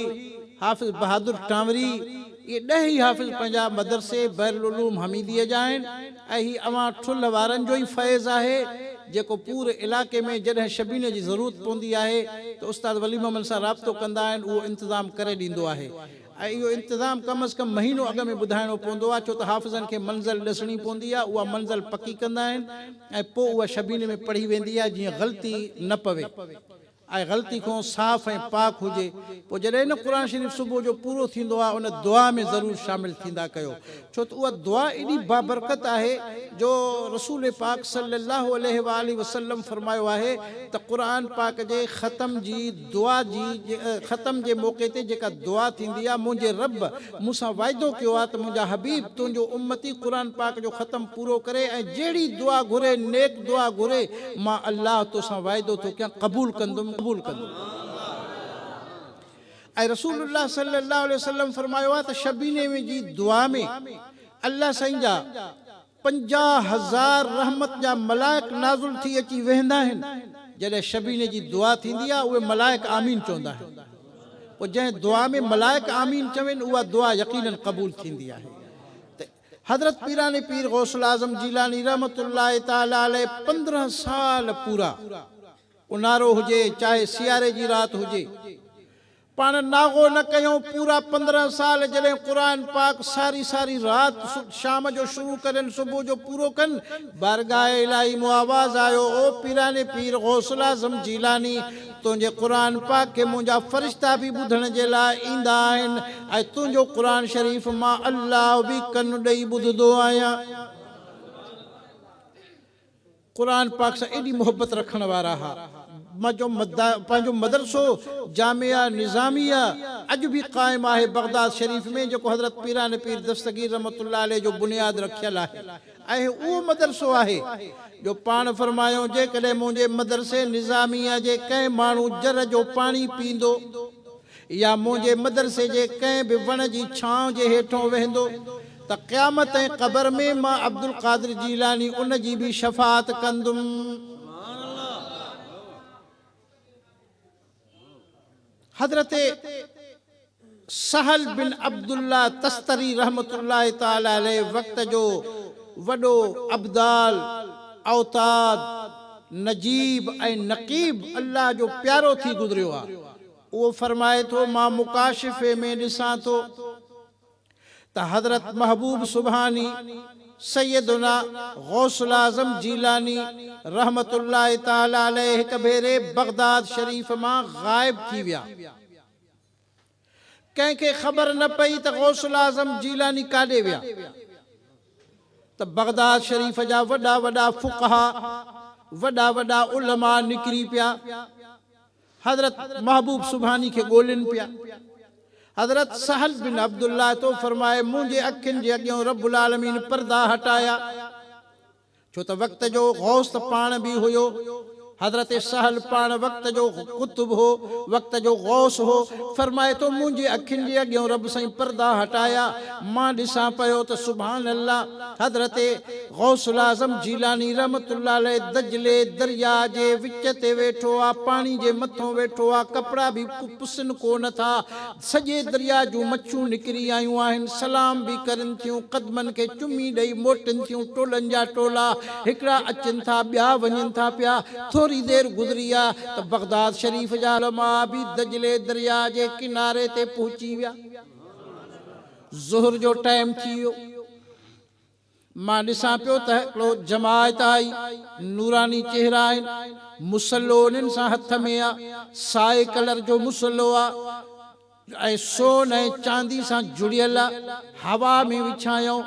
حافظ بهادر ٽانوري، اهي ڏهه ئي حافظ پنجاب مدرسي بحرالعلوم حميديء جا آهن ۽ هي اوهان ٺلهه وارن جو ئي فيض آهي، جيڪو پوري علائقي ۾ جڏهن شبيني جي ضرورت پوندي آهي ته استاد ولي محمد سان رابطو ڪندا آهن، اهو انتظام ڪري ڏيندو آهي ۽ اهو انتظام ڪم از ڪم مهينو اڳ ۾ ٻڌائڻو پوندو آهي، ڇو ته حافظن کي منزل ڏسڻي پوندي آهي، اها منزل پڪي ڪندا آهن ۽ پوء اها شبيني ۾ پڙهي ويندي آهي، جيئن غلطي نه پوي. آء غلطي کان صاف ۽ پاڪ هجي پوء جڏهن نه قرآن شريف صبح جو پورو ٿيندو آهي ان دعا ۾ ضرور شامل ٿيندا ڪيو ڇو ته اها دعا ايڏي بابرڪت آهي جو رسول پاڪ صلي الله عليه وآله وسلم فرمايو آهي ته قرآن پاڪ جي ختم جي دعا جي ختم جي موقعي تي جيڪا دعا ٿيندي آهي منهنجي رب مون سان وعدو ڪيو آهي ته منهنجا حبيب تنهنجو امتي قرآن پاڪ جو ختم پورو ڪري ۽ جهڙي دعا گهري نيڪ دعا گهري مان الله توسان وعدو ٿو ڪيان قبول ڪندم قبول ڪندم ۽ رسول الله صلي الله عليه وسلم فرمايو آهي ته شبيني ۾ جي دعا ۾ الله سائين جا پنجاهه هزار رحمت جا ملائڪ نازل ٿي اچي ويهندا آهن، جڏهن شبيني جي دعا ٿيندي آهي اهي ملائڪ آمين چوندا آهن، پوء جنهن دعا ۾ ملائڪ آمين چون اها دعا يقينن قبول ٿيندي آهي ته حضرت پيراڻي پير غوث الاعظم جيلاني رحمة الله تعالٰي عليه پندرهن سال پورا اونهارو هجي چاهي سياري جي رات هجي پاڻ ناغو نه ڪيون پورا پندرهن سال جڏهن قرآن پاڪ ساري ساري رات شام جو شروع ڪرين صبح جو پورو ڪن بارگاھ الاھي مون آواز آيو او پيراڻي پير غوث الاعظم جيلاني تنهنجي قرآن پاڪ کي منهنجا فرشتا به ٻڌڻ جي لاء ايندا آهن ۽ تنهنجو قرآن شريف مان الله به ڪن ڏئي ٻڌدو آهيان. قرآن پاڪ سان ايڏي محبت رکڻ وارا ها جو پنهنجو مدرسو جامعه نظاميه اڄ به قائم آهي بغداد شريف ۾ جيڪو حضرت پيران پير دستگير رحمة الله عليه جو بنياد رکيل آهي اهي اهو مدرسو آهي جو پاڻ فرمايائون جيڪڏهن منهنجي مدرسي نظاميه جي ڪنهن ماڻهو جر جو پاڻي پيندو يا منهنجي مدرسي جي ڪنهن به وڻ جي ڇانو جي هيٺون ويهندو ته قيامت ۽ قبر ۾ مان عبدالقادر جيلاني ان جي به شفاعت ڪندم. حضرت سهل بن عبدالله تستري رحمة الله تعالٰي عليه وقت جو وڏو ابدال، اوتاد، نجيب ۽ نقيب الله جو پيارو ٿي گذريو آهي. اهو فرمائي ٿو، مان مڪاشفي ۾ ڏسان ٿو ته حضرت محبوب سبحاني سيدنا غوث الاعظم جيلاني رحمة الله تعالٰي عليه هڪ ڀيري بغداد شريف مان غائب ٿي ويا. ڪنهن کي خبر نه پئي ته غوث الاعظم جيلاني ڪاڏي ويا ته بغداد شريف جا وڏا وڏا فقها، وڏا وڏا علماء نڪري پيا. حضرت محبوب سبحاني کي ڳولين پيا. حضرت سهل بن عبدالله ٿو فرمائي، منهنجي اکين جي اڳيئون رب العالمين پردا هٽايا، ڇو ته وقت جو غوث ته پاڻ به هيو. حضرت سهل پاڻ وقت جو قطب هو، وقت جو غوث هو، فرمائي ٿو، منهنجي اکين جي اڳيئون رب سائين پردا هٽايا، مان ڏسان پيو ته سبحان الله! حضرت. غوث الاعظم جيلاني رحمة الله عليه دجلي درياء جي وچ تي ويٺو آ، پاڻي جي مٿون ويٺو آ، ڪپڙا به پسن ڪو نه ٿا، سڄي درياء جون مڇون نڪري آيون آهن، سلام به ڪرين ٿيون، قدمن کي چمي ڏئي موٽن ٿيون، ٽولن جا ٽولا، هڪڙا اچن ٿا، ٻيا وڃن ٿا پيا، ٿوري دير گذري آ ته بغداد شريف جا علماء به دجلي درياء جي ڪناري تي پهچي ويا. ظهر جو ٽائيم ٿي ويو. مان ڏسان پيو ته هڪڙو جماعت آئي، نوراني چهرا آهن، مصلو انهن سان هٿ ۾ آ، سائي ڪلر جو مصلو آ ۽ سون ۽ چاندي سان جڙيل آ، هوا ۾ وڇايائون،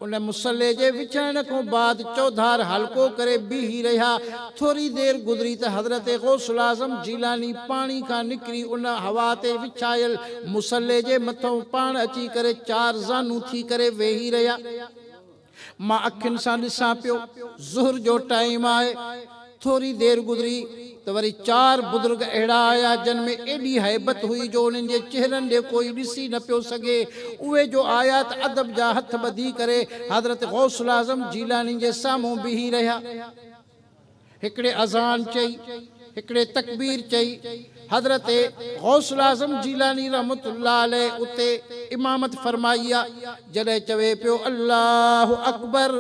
ان مصلي جي وڇائڻ کون بعد چوڌار حلقو ڪري بيهي رهيا، ٿوري دير گذري ته حضرت غوث الاعظم جيلاني پاڻي کان نڪري ان هوا تي وڇايل مصلي جي مٿئون پاڻ اچي ڪري چار زانو ٿي ڪري ويهي رهيا. مان اکين سان ڏسان پيو، ظهر جو ٽائيم آهي. ٿوري دير گذري ته وري چار بزرگ اهڙا آيا جن ۾ ايڏي هيبت هئي جو انهن جي چهرن ڏي ڪوئي ڏسي نه پيو سگهي. اهي جو آيا ته ادب جا هٿ ٻڌي ڪري حضرت غوث الاعظم جيلاني جي سامهون بيهي رهيا. هڪڙي اذان چئي، هڪڙي تڪبير چئي، حضرت غوث الاعظم جيلاني رحمة الله عليه اتي امامت فرمائي آ، جڏهن چوي پيو الله اڪبر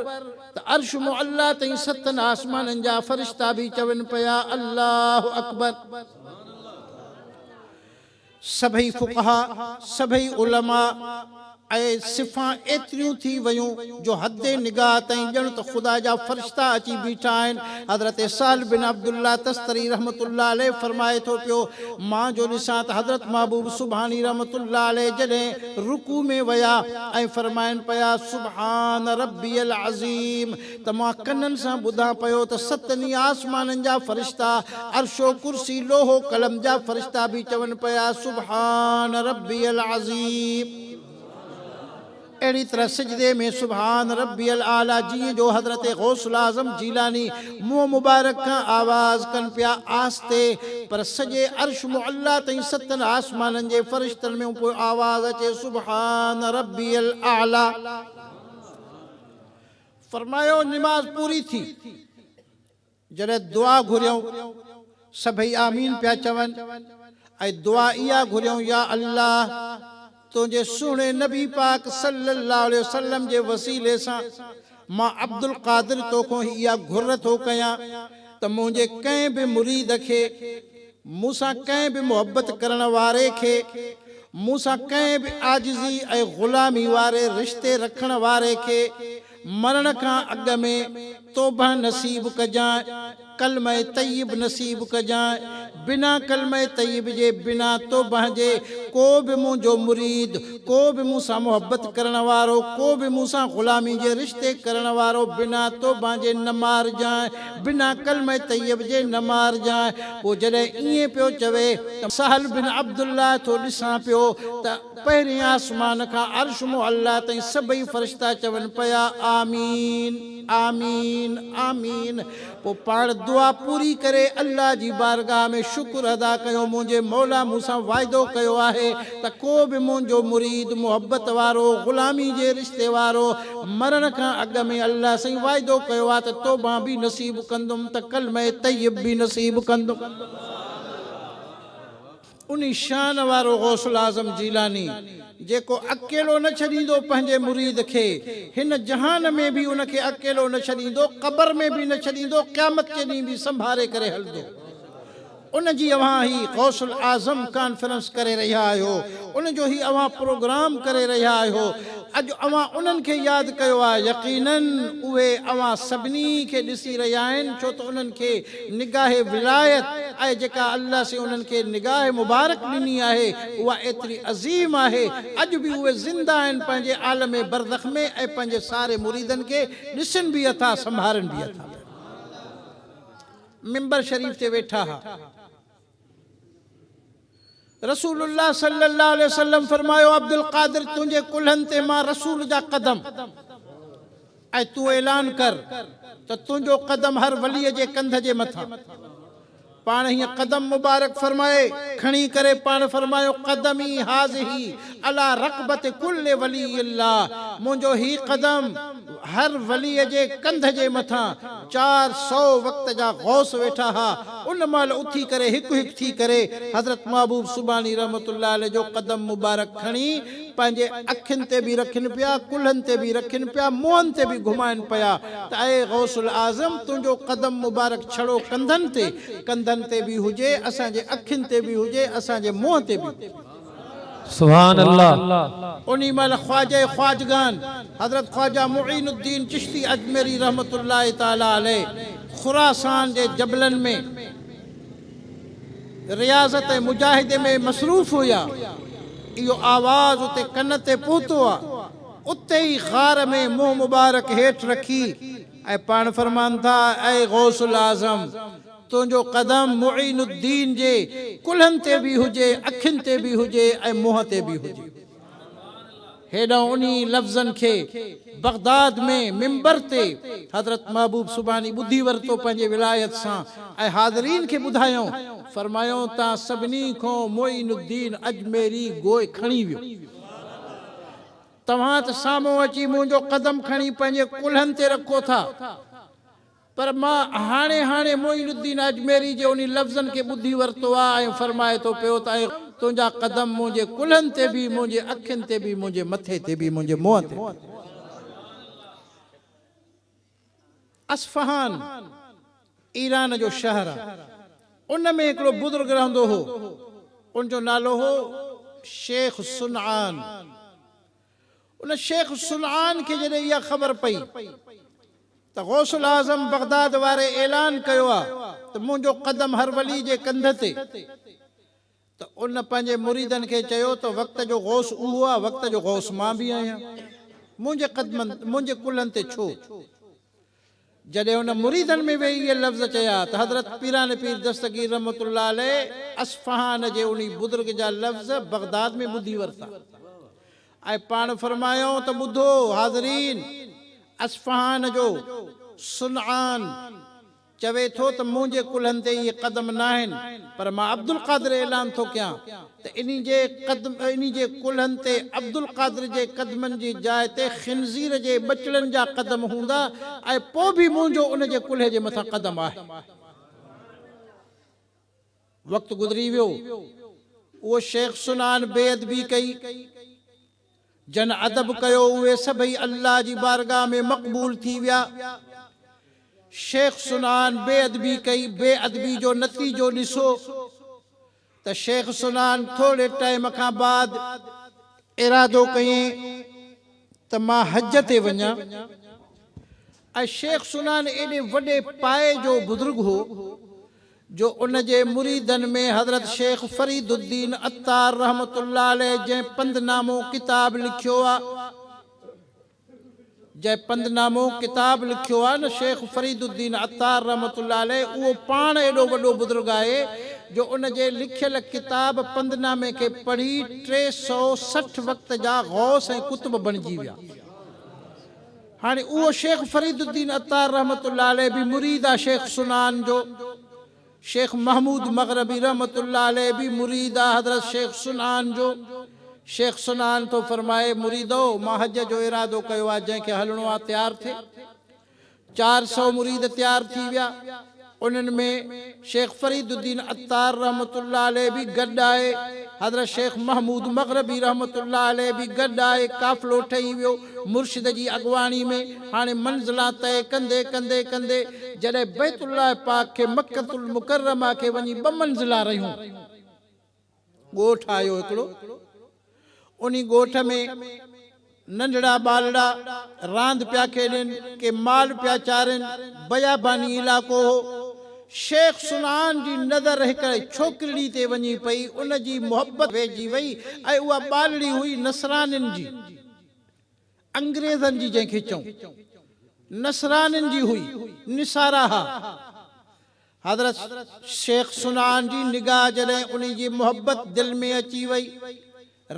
ته عرش معليٰ تائين ستن آسمانن جا فرشتا به چون پيا الله اڪبر. سڀئي فقها، سڀئي علماء ۽ صفان ايتريون ٿي ويون جو حد نگاهه تائين ڄڻ ته خدا جا فرشتا اچي بيٺا آهن. حضرت سهل بن عبد الله تستري رحمة الله عليه فرمائي ٿو پيو، مان جو ڏسان ته حضرت محبوب سبحاني رحمة الله عليه جڏهن رڪوع ۾ ويا ۽ فرمائن پيا، سبحان ربي العظيم، ته مان ڪنن سان ٻڌان پيو ته ست ني آسمانن جا فرشتا، عرش و ڪرسي، لوح و قلم جا فرشتا به چون پيا سبحان ربي العظيم. اهڙي طرح سجدي ۾ سبحان ربي الاعليٰ جيئن جو حضرت غوث الاعظم جيلاني منهن مبارڪ کان آواز ڪن پيا آهستي پر سڄي عرش معليٰ تائين ستن آسمانن جي فرشتن ۾ اهو آواز اچي سبحان ربي الاعليٰ. فرمايو نماز پوري ٿي، جڏهن دعا گهريائون، سڀئي آمين پيا چون ۽ دعا اها گهريائون يا الله! تنهنجي سهڻي نبي پاڪ صلي الله عليه وسلم جي وسيلي سان مان عبدالقادر توکون اها گهر ٿو ڪيان ته منهنجي ڪنهن به مريد کي مون سان ڪنهن به محبت ڪرڻ واري کي، مون سان ڪنهن به عاجزي ۽ غلامي واري رشتي رکڻ واري کي مرڻ کان اڳ ۾ توبه نصيب ڪجانء، ڪلمه طيب نصيب ڪجانء، بنا ڪلمه طيب جي، بنا توبه جي ڪو به منهنجو مريد، ڪو به مون سان محبت ڪرڻ وارو، ڪو به مون سان غلامي جي رشتي ڪرڻ وارو بنا توبه جي نه مارجانء، بنا ڪلمه طيب جي نه مارجانء. پوء جڏهن ائين پيو چوي ته سهل بن عبدالله ٿو ڏسان پيو ته پهرين آسمان کان عرش معليٰ تائين سڀئي فرشتا چون پيا آمين آمين آمين پوء پاڻ دعا پوري ڪري الله جي بارگاهه ۾ شڪر ادا ڪيو منهنجي موليٰ مون سان واعدو ڪيو آهي ته ڪو به منهنجو مريد، محبت وارو، غلامي جي رشتي وارو، مرڻ کان اڳ ۾ الله سائين واعدو ڪيو آهي ته توبه به نصيب ڪندم ته ڪلمه طيب به نصيب ڪندم. انهي شان وارو غوث الاعظم جيلاني جيڪو اڪيلو نه ڇڏيندو پنهنجي مريد کي، هن جهان ۾ به ان کي اڪيلو نه ڇڏيندو، قبر ۾ به نه ڇڏيندو، قيامت جي ڏينهن به سنڀاري ڪري هلندو. ان جي اوهان هي غوث الاعظم ڪانفرنس ڪري رهيا آهيو، ان جو هي اوهان پروگرام ڪري رهيا آهيو، اڄ اوهان انهن کي ياد ڪيو آهي، يقيناً اهي اوهان سڀني کي ڏسي رهيا آهن، ڇو ته انهن کي نگاهه ولايت آهي جيڪا الله سين انهن کي نگاهه مبارڪ ڏني آهي اها ايتري عظيم آهي، اڄ به اهي زنده آهن پنهنجي عالم برزخ ۾ ۽ پنهنجي ساري مريدن کي ڏسن به اٿا سنڀارن به اٿا پيا. منبر شريف تي ويٺا ها. رسول الله صلي الله عليه وسلم فرمايو عبدالقادر تنهنجي ڪلهن تي مان رسول جا قدم ۽ تون اعلان ڪر ته تنهنجو قدم هر ولي جي ڪنڌ جي مٿان پاڻ هيئن قدم مبارڪ فرمائي کڻي ڪري پاڻ فرمايو قدمي هاذه علي رقبة ڪل ولي الله منهنجو هي قدم هر وليء جي ڪنڌ جي مٿان چار سؤ وقت جا غوث ويٺا ها، ان مهل اٿي ڪري هڪ هڪ ٿي ڪري حضرت محبوب سبحاني رحمة الله عليه جو قدم مبارڪ کڻي پنهنجي اکين تي به رکين پيا، ڪلهن تي به رکين پيا، منهن تي به گهمائين پيا ته اي غوث الاعظم تنهنجو قدم مبارڪ ڇڙو ڪنڌن تي، ڪنڌن تي به هجي، اسان جي اکين تي به هجي، اسان جي منهن تي به هجي. سبحان الله. انهي مهل خواجه خواجگان حضرت خواجه معين الدين چشتي اجميري رحمة الله تعالٰي عليه خراسان جي جبلن ۾ رياضت ۽ مجاهدي ۾ مصروف هيا. اهو آواز اتي ڪن تي پهتو آ. اتي ئي غار ۾ منهن مبارڪ هيٺ رکي ۽ پاڻ فرمان ٿا، اي غوث الاعظم! تنهنجو قدم معين الدين جي ڪلهن تي به هجي، اکين تي به هجي ۽ منهن تي به هجي. هيڏانهن انهي لفظن کي بغداد ۾ منبر تي حضرت محبوب سبحاني ٻڌي ورتو پنهنجي ولايت سان ۽ حاضرين کي ٻڌايائون، فرمايائون تان سڀني کان معين الدين اجميري گوء کڻي ويو. توهان ته سامهون اچي منهنجو قدم کڻي پنهنجي ڪلهن تي رکو ٿا. پر مان هاڻي هاڻي معين الدين اجميري جي انهي لفظن کي ٻڌي ورتو آ ۽ فرمائي ٿو پيو ته اي تنهنجا قدم منهنجي ڪلهن تي به منهنجي اکين تي به منهنجي مٿي تي به منهنجي منهن تي به. اصفهان ايران جو شهر آ ان ۾ هڪڙو بزرگ رهندو هو ان جو نالو هو شيخ صنعان. ان شيخ صنعان کي جڏهن اها خبر پئي ته غوث الاعظم بغداد واري اعلان ڪيو آهي ته منهنجو قدم هر ولي جي ڪنڌ تي ته ان پنهنجي مريدن کي چيو ته وقت جو غوث اهو آهي وقت جو غوث مان به آهيان منهنجي قدمن منهنجي ڪلهن تي ڇو جڏهن هن مريدن ۾ ويهي اهي لفظ چيا ته حضرت پيران پير دستگير رحمة الله عليه اصفهان جي انهي بزرگ جا لفظ بغداد ۾ ٻڌي ورتا ۽ پاڻ فرمايائون ته ٻڌو حاضرين! اصفهان جو صنعان چوي ٿو ته منهنجي ڪلهن تي اهي قدم ناهن پر مان عبدالقادر اعلان ٿو ڪيان ته انهي جي قدم انهي جي ڪلهن تي عبدالقادر جي قدمن جي جاء تي خنزير جي ٻچڙن جا قدم هوندا ۽ پوء به منهنجو ان جي ڪلهي جي مٿان قدم آهي. وقت گذري ويو. اهو شيخ سنان بي ادبي ڪئي. جن ادب ڪيو اهي سڀئي الله جي بارگاهه ۾ مقبول ٿي ويا. شيخ سنان بي ادبي ڪئي، بي ادبي جو نتيجو ڏسو. ته شيخ سنان ٿوري ٽائيم کان بعد ارادو ڪيئين ته مان حج تي وڃان ۽ شيخ سنان ايڏي وڏي پائي جو بزرگ هو جو ان جي مريدن ۾ حضرت شيخ فريد الدين عطار رحمة الله عليه جنهن پندنامو ڪتاب لکيو آ جنهن پندنامو ڪتاب لکيو آهي نه شيخ فريد الدين عطار رحمة الله عليه اهو پاڻ ايڏو وڏو بزرگ آهي جو ان جي لکيل ڪتاب پندنامي کي پڙهي ٽي سؤ سٺ وقت جا غوث ۽ قطب بڻجي ويا هاڻي اهو شيخ فريد الدين عطار رحمة الله عليه به مريد آهي شيخ سنان جو شيخ محمود مغربي رحمة الله عليه به مريد آ حضرت شيخ صنعان جو. شيخ صنعان ٿو فرمائي، مريدؤ! مان حج جو ارادو ڪيو آ، جنهن کي هلڻو آ تيار ٿئي. چار سؤ مريد تيار ٿي ويا. انهن ۾ شيخ فريد الدين عطار رحمة الله عليه به گڏ آهي. حضرت شيخ محمود مغربي رحمة الله عليه به گڏ آهي. قافلو ٺهي ويو. مرشد جي اڳواڻي ۾. هاڻي منزلا طئي ڪندي ڪندي ڪندي جڏهن بيت الله پاڪ کي مڪة المڪرمه کي وڃي ٻه منزلا رهيون ڳوٺ آيو هڪڙو انهي ڳوٺ ۾ ننڍڙا ٻالڙا راند پيا کيڏين ڪي مال پيا چارين بياباني علائقو هو شيخ صنعان جي نظر هڪڙي ڇوڪرڙي تي وڃي پئي ان جي محبت ويهجي وئي ۽ اها ٻالڙي هئي نصرانين جي انگريزن جي جنهن کي چئون نصرانين جي هئي، نصارا ها. حضرت شيخ صنعان جي نگاهه جڏهن انهي جي محبت دل ۾ اچي وئي،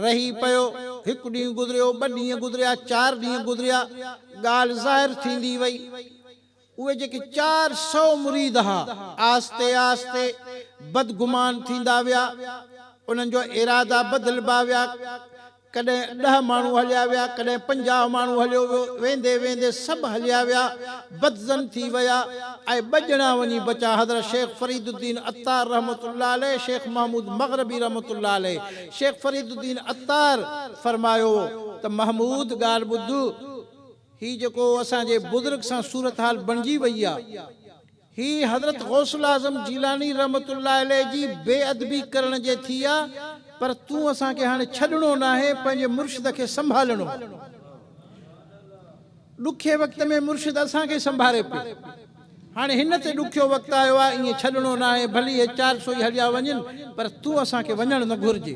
رهي پيو، هڪ ڏينهن گذريو، ٻه ڏينهن گذريا، چار ڏينهن گذريا، ڳالهه ظاهر ٿيندي وئي. اهي جيڪي چار سؤ مريد ها، آهستي آهستي بدگمان ٿيندا ويا. انهن جو ارادا بدلبا ويا. ڪڏهن ڏهه ماڻهو هليا ويا، ڪڏهن پنجاهه ماڻهو هليو ويو. ويندي ويندي سڀ هليا ويا، بدظن ٿي ويا ۽ ٻه ڄڻا وڃي بچا، حضرت شيخ فريد الدين عطار رحمة الله عليه، شيخ محمود مغربي رحمة الله عليه. شيخ فريد الدين عطار فرمايو ته محمود ڳالهه ٻڌ! هي جيڪو اسان جي بزرگ سان صورتحال بڻجي وئي آ هي حضرت غوث الاعظم جيلاني رحمة الله عليه جي بي ادبي ڪرڻ جي ٿي آ پر تون اسان کي هاڻي ڇڏڻو ناهي پنهنجي مرشد کي سنڀالڻو آ ڏکي وقت ۾ مرشد اسان کي سنڀاري پيو. هاڻي هن تي ڏکيو وقت آيو آهي، ائين ڇڏڻو ناهي، ڀلي اهي چار سو ئي هليا وڃن، پر تون اسان کي وڃڻ نه گهرجي.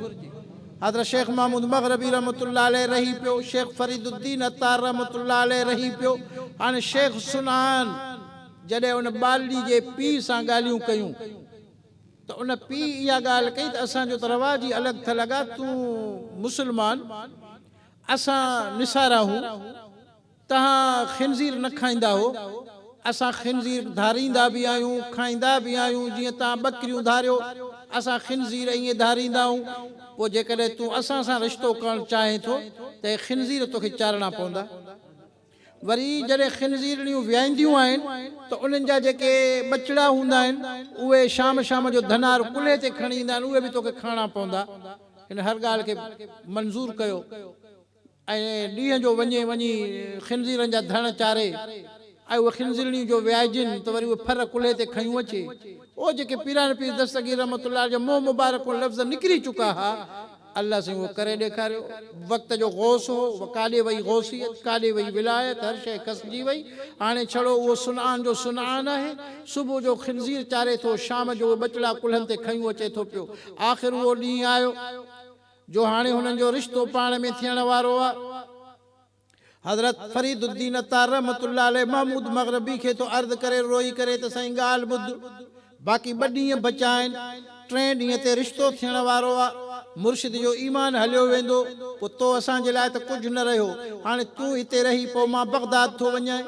حضرت شيخ محمود مغربي رحمة الله عليه رهي پيو، شيخ فريد الدين عطار رحمة الله عليه رهي پيو، هاڻي شيخ صنعان جڏهن ان ٻالڙي جي پيء سان ڳالهيون ڪيون ته ان پيء اها ڳالهه ڪئي ته اسان جو ته رواج ئي الڳ ٿل اڳا تون مسلمان، اسان نصارا آهون. توهان خنزير نه کائيندا هو، اسان خنزير ڌاريندا به آهيون، کائيندا به آهيون، جيئن توهان ٻڪريون ڌاريو، اسان خنزير ائين ڌاريندا آهيون، پوء جيڪڏهن تون اسان سان رشتو ڪرڻ چاهين ٿو ته اهي خنزير توکي چارڻا پوندا. وري جڏهن خنزيرڻيون ويائينديون آهن ته انهن جا جيڪي ٻچڙا هوندا آهن، اهي شام شام جو ڌنار ڪلهي تي کڻي ايندا آهن، اهي به توکي کائڻا پوندا. هن هر ڳالهه کي منظور ڪيو. ۽ ڏينهن جو وڃي وڃي خنزيرن جا ڌڻ چاري ۽ اهي خنزيرڻيون جو ويائجن ته وري اهي ڦر ڪلهي تي کنيون اچي. او جيڪي پيراڻي پير دستگير رحمة الله جا منهن مبارڪون لفظ نڪري چڪا ها، الله سائين اهو ڪري ڏيکاريو. وقت جو غوث هو، ڪاڏي وئي غوثيت، ڪاڏي وئي ولايت، هر شيء کسجي وئي. هاڻي ڇڙو اهو صنعان جو صنعان آهي. صبح جو خنزير چاري ٿو، شام جو اهي ٻچڙا ڪلهن تي کنيون اچي ٿو پيو. آخر اهو ڏينهن آيو. جو هاڻي هنن جو رشتو پاڻ ۾ ٿيڻ وارو آ. حضرت فريد الدين عطار رحمة الله عليه محمود مغربي کي ٿو عرض ڪري روئي ڪري ته سائين ڳالهه ٻڌ باقي ٻه ڏينهن بچا آهن ٽئين ڏينهن تي رشتو ٿيڻ وارو آ مرشد جو ايمان هليو ويندو پوء تو اسان جي لاء ته ڪجهه نه رهيو هاڻي تون هتي رهي پوء مان بغداد ٿو وڃان.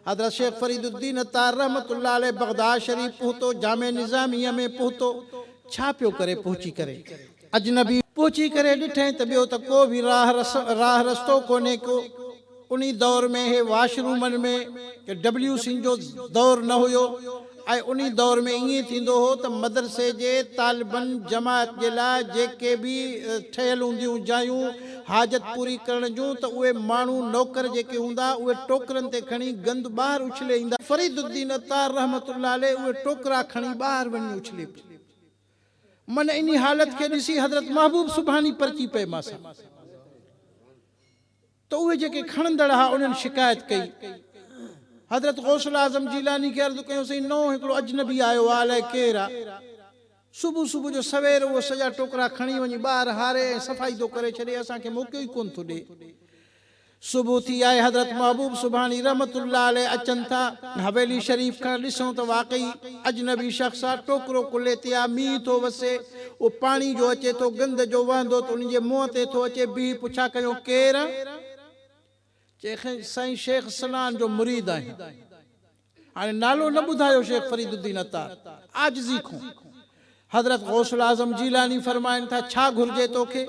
حضرت شيخ فريد الدين عطار رحمة الله عليه بغداد شريف پهتو، جامع نظاميه ۾ پهتو، ڇا پيو ڪري پهچي ڪري؟ اجنبي. پهچي ڪري ڏٺئين ته ٻيو ته ڪو به راهه رس، راهه رستو ڪونهي ڪو. انهي دور ۾ هي واش رومن ۾، ڊبليو سين جو دور نه هيو. ۽ انهي دور ۾ ائين ٿيندو هو ته مدرسي جي طالبن جماعت جي لاء جيڪي به ٺهيل هونديون جايون حاجت پوري ڪرڻ جون ته اهي ماڻهو نوڪر جيڪي هوندا اهي ٽوڪرن تي کڻي گند ٻاهر اڇلي ايندا. فريد الدين عطار رحمة الله عليه اهي ٽوڪرا کڻي ٻاهر وڃي اڇلي پيو. من انهي حالت کي ڏسي حضرت محبوب سبحاني پرچي پئي ماسان. ته اهي جيڪي کڻندڙ ها انهن شڪايت ڪئي حضرت غوث الاعظم جيلاني کي عرض ڪيون سائين نئون هڪڙو اجنبي آيو آ الائي ڪير آ صبح صبح جو سوير اهو سڄا ٽوڪرا کڻي وڃي ٻاهر هاري ۽ صفائي ٿو ڪري ڇڏي اسان کي موقعو ئي ڪونه ٿو ڏي صبح ٿي آهي حضرت محبوب سبحاني رحمة الله عليه اچن ٿا حويلي شريف کان ڏسون ته واقعي اجنبي شخص آ ٽوڪرو ڪلهي تي آ مينهن ٿو وسي اهو پاڻي جو اچي ٿو گند جو وهندو ته ان جي منهن تي ٿو اچي بيهي پڇا ڪيون ڪير چئي کين سائين شيخ صنعان جو مريد آهيون هاڻي نالو نه ٻڌايو شيخ فريد الدين عطار عاجزي کون حضرت غوث الاعظم جيلاني فرمائن ٿا ڇا گهرجي توکي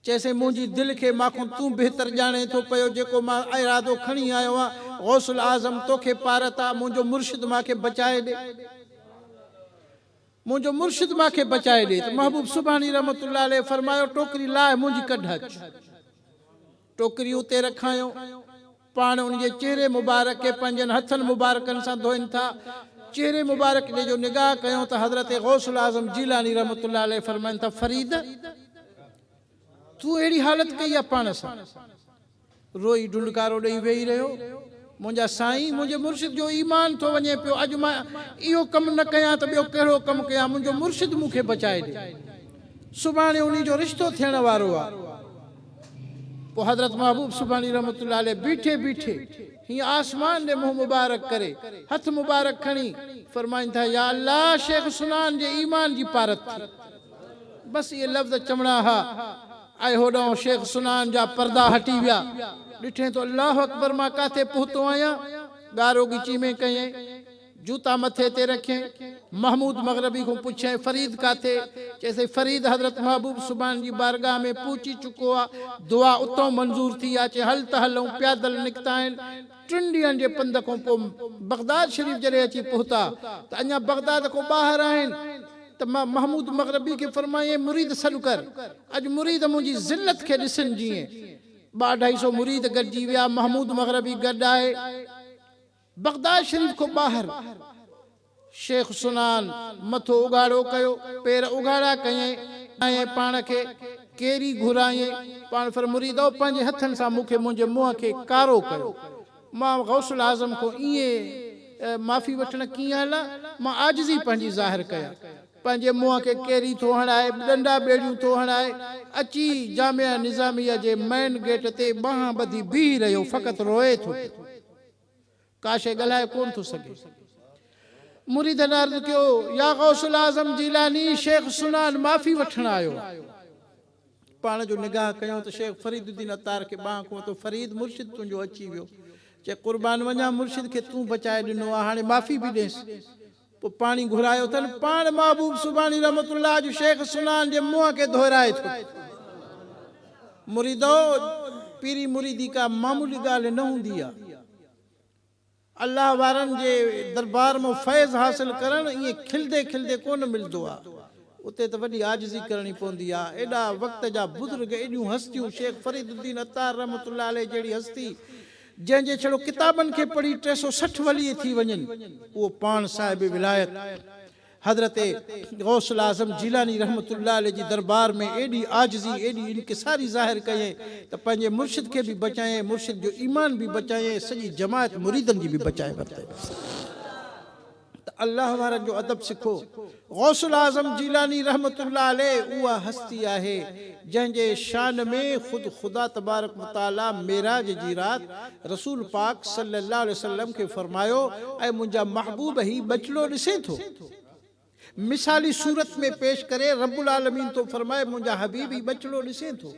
چيسين منهنجي دل کي ماکون تون بهتر ڄاڻين ٿو پيو جيڪو مان ارادو کڻي آيو آهيان غوث الاعظم توکي پارت آ منهنجو مرشد ماکي بچائي ڏي منهنجو مرشد ماکي بچائي ڏي ته محبوب سبحاني رحمة الله عليه فرمايو ٽوڪري لاهه منهنجي ڪڍ اچ ٽوڪري اتي رکايئون پاڻ ان جي چهري مبارڪ کي پنهنجن هٿن مبارڪن سان ڌوئن ٿا. چهري مبارڪ ڏي جو نگاهه ڪيون ته حضرت غوث الاعظم جيلاني رحمة الله عليه فرمائن ٿا، فريد! تون اهڙي حالت ڪئي آ پاڻ سان؟ روئي ڍنڍڪارو ڏئي ويهي رهيو. منهنجا سائين! منهنجي مرشد جو ايمان ٿو وڃي پيو. اڄ مان اهو ڪم نه ڪيان ته ٻيو ڪهڙو ڪم ڪيان. منهنجو مرشد مون کي بچائي ڏي. سڀاڻي انهي جو رشتو ٿيڻ وارو آ. پوء حضرت محبوب سبحاني رحمة الله عليه بيٺي بيٺي هيئن آسمان ڏي منهن مبارڪ ڪري هٿ مبارڪ کڻي فرمائن ٿا يا الله شيخ سنان جي ايمان جي پارت ٿي بس اهي لفظ چوڻا ها ۽ هوڏانهن شيخ سنان جا پردا هٽي ويا ڏٺين ته الله اڪبر مان ڪاٿي پهتو آهيان ڳارو ڳچي ۾ ڪئين جوتا مٿي تي رکين محمود مغربي کون پڇيائين فريد ڪاٿي؟ چيسين فريد حضرت محبوب سبحان جي بارگاھ ۾ پهچي چڪو آ، دعا اتئون منظور ٿي آ، چي هل ته هلئون پيادل نڪتائين، ٽن ڏينهن جي پنڌ کون پوء بغداد شريف جڏهن اچي پهتا ته اڃا بغداد کون ٻاهر آهن ته مان محمود مغربي کي فرمايائين مريد سڏ ڪر اڄ مريد منهنجي ذلت کي ڏسن جيئن ٻه اڍائي سو مريد گڏجي ويا محمود مغربي گڏ آهي. بغداد شريف کان ٻاهر شيخ سنان مٿو اگهاڙو ڪيو، پير اگهاڙا ڪيائين، ٻڌايائين پاڻ کي ڪير ئي گهرائين؟ پاڻ فرمايو مريدؤ! پنهنجي هٿن سان مون کي منهنجي منهن کي ڪارو ڪيو، مان غوث الاعظم کان ائين معافي وٺڻ ڪيئن هلان؟ مان عاجزي پنهنجي ظاهر ڪيان، پنهنجي منهن کي ڪيري ٿو هڻائي، ڏنڊا ٻيڙيون ٿو هڻائي، اچي جامعه نظاميه جي مئن گيٽ تي ٻانهن ٻڌي بيهي رهيو، فقط روئي ٿو پيو. ڪا شيء ڳالهائي ڪونه ٿو سگهي. مريدن عرض ڪيو، يا غوث الاعظم جيلاني، شيخ سنان معافي وٺڻ آيو. پاڻ جو نگاهه ڪيو ته شيخ فريد الدين عطار کي ٻانهن کنئون ٿو، فريد مرشد تنهنجو اچي ويو. چئي قربان وڃان مرشد کي تون بچائي ڏنو آ، هاڻي معافي به ڏيس. پوء پاڻي گهرايو اٿن. پاڻ محبوب سبحاني رحمة الله جو شيخ سنان جي منهن کي ڌوئرائي ٿو. مريدؤ! پيري مريدي ڪا معمولي ڳالهه نه هوندي آ. الله وارن جي دربار مان فيض حاصل ڪرڻ ائين کلندي کلندي ڪونه ملدو آ. اتي ته وڏي عاجزي ڪرڻي پوندي آ. ايڏا وقت جا بزرگ، ايڏيون هستيون، شيخ فريد الدين عطار رحمة الله عليه جهڙي هستي، جنهن جي ڇڙو ڪتابن کي پڙهي ٽي سؤ سٺ ولي ٿي وڃن، اهو پاڻ صاحب ولايت حضرت غوث الاعظم جيلاني رحمة الله عليه جي دربار ۾ ايڏي عاجزي، ايڏي انڪساري ظاهر ڪيائين ته پنهنجي مرشد کي به بچايائين، مرشد جو ايمان به بچايائين، سڄي جماعت مريدن جي به بچائي ورتائين. ته الله وارن جو ادب سکو. غوث الاعظم جيلاني رحمة الله عليه اها هستي آهي جنهن جي شان ۾ خود خدا تبارڪ وتعالي معراج جي رات رسول پاڪ صلي الله عليه وسلم کي فرمايو اي منهنجا محبوب هي ٻچڙو ڏسين ٿو؟ مثالي صورت ۾ پيش ڪري رب العالمين ٿو فرمائي منهنجا حبيب هي ٻچڙو ڏسين ٿو؟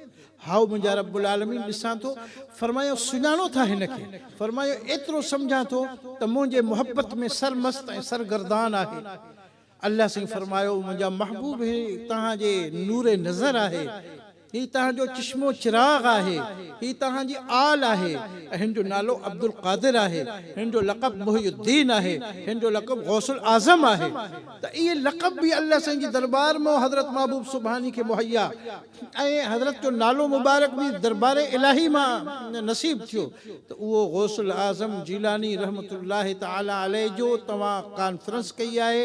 هائو، منهنجا رب العالمين، ڏسان ٿو. فرمايائون، سڃاڻو ٿا هن کي؟ فرمايو، ايترو سمجهان ٿو ته منهنجي محبت ۾ سرمست ۽ سرگردان آهي. الله سائين فرمايو، منهنجا محبوب، هي توهان جي نور نظر آهي، هي توهان جو چشم و چراغ آهي، هي توهان جي آل آهي ۽ هن جو نالو عبدالقادر آهي، هن جو لقب محي الدين آهي، هن جو لقب غوث الاعظم آهي ته اهي لقب به الله سائين جي درٻار مان حضرت محبوب سبحاني کي مهيا ۽ حضرت جو نالو مبارڪ به دربار الاھي مان نصيب ٿيو ته اهو غوث الاعظم جيلاني رحمة الله تعالي عليه جو توهان ڪانفرنس ڪئي آهي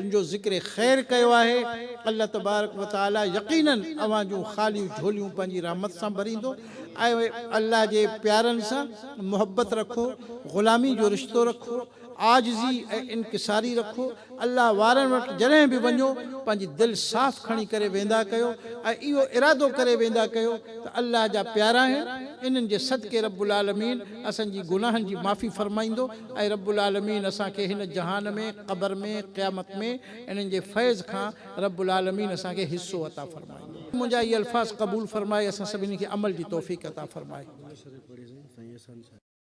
ان جو ذڪر خير ڪيو آهي الله تبارڪ وتعالي يقينن اوهان جون خاليون جھوليون پنهنجي رحمت سان ڀريندو اي الله جي پيارن سان محبت رکو غلامي جو رشتو رکو عاجزي ۽ انڪساري رکو، الله وارن وٽ جڏهن به وڃو پنهنجي دل صاف کڻي ڪري ويندا ڪيو ۽ اهو ارادو ڪري ويندا ڪيو ته الله جا پيارا آهن انهن جي صدقي رب العالمين اسان جي گناهن جي معافي فرمائيندو ۽ رب العالمين اسان کي هن جهان ۾ قبر ۾ قيامت ۾ انهن جي فيض کان رب العالمين اسان کي حصو عطا فرمائيندو. منهنجا اهي الفاظ قبول فرمائي اسان سڀني کي عمل جي توفيق عطا فرمائي.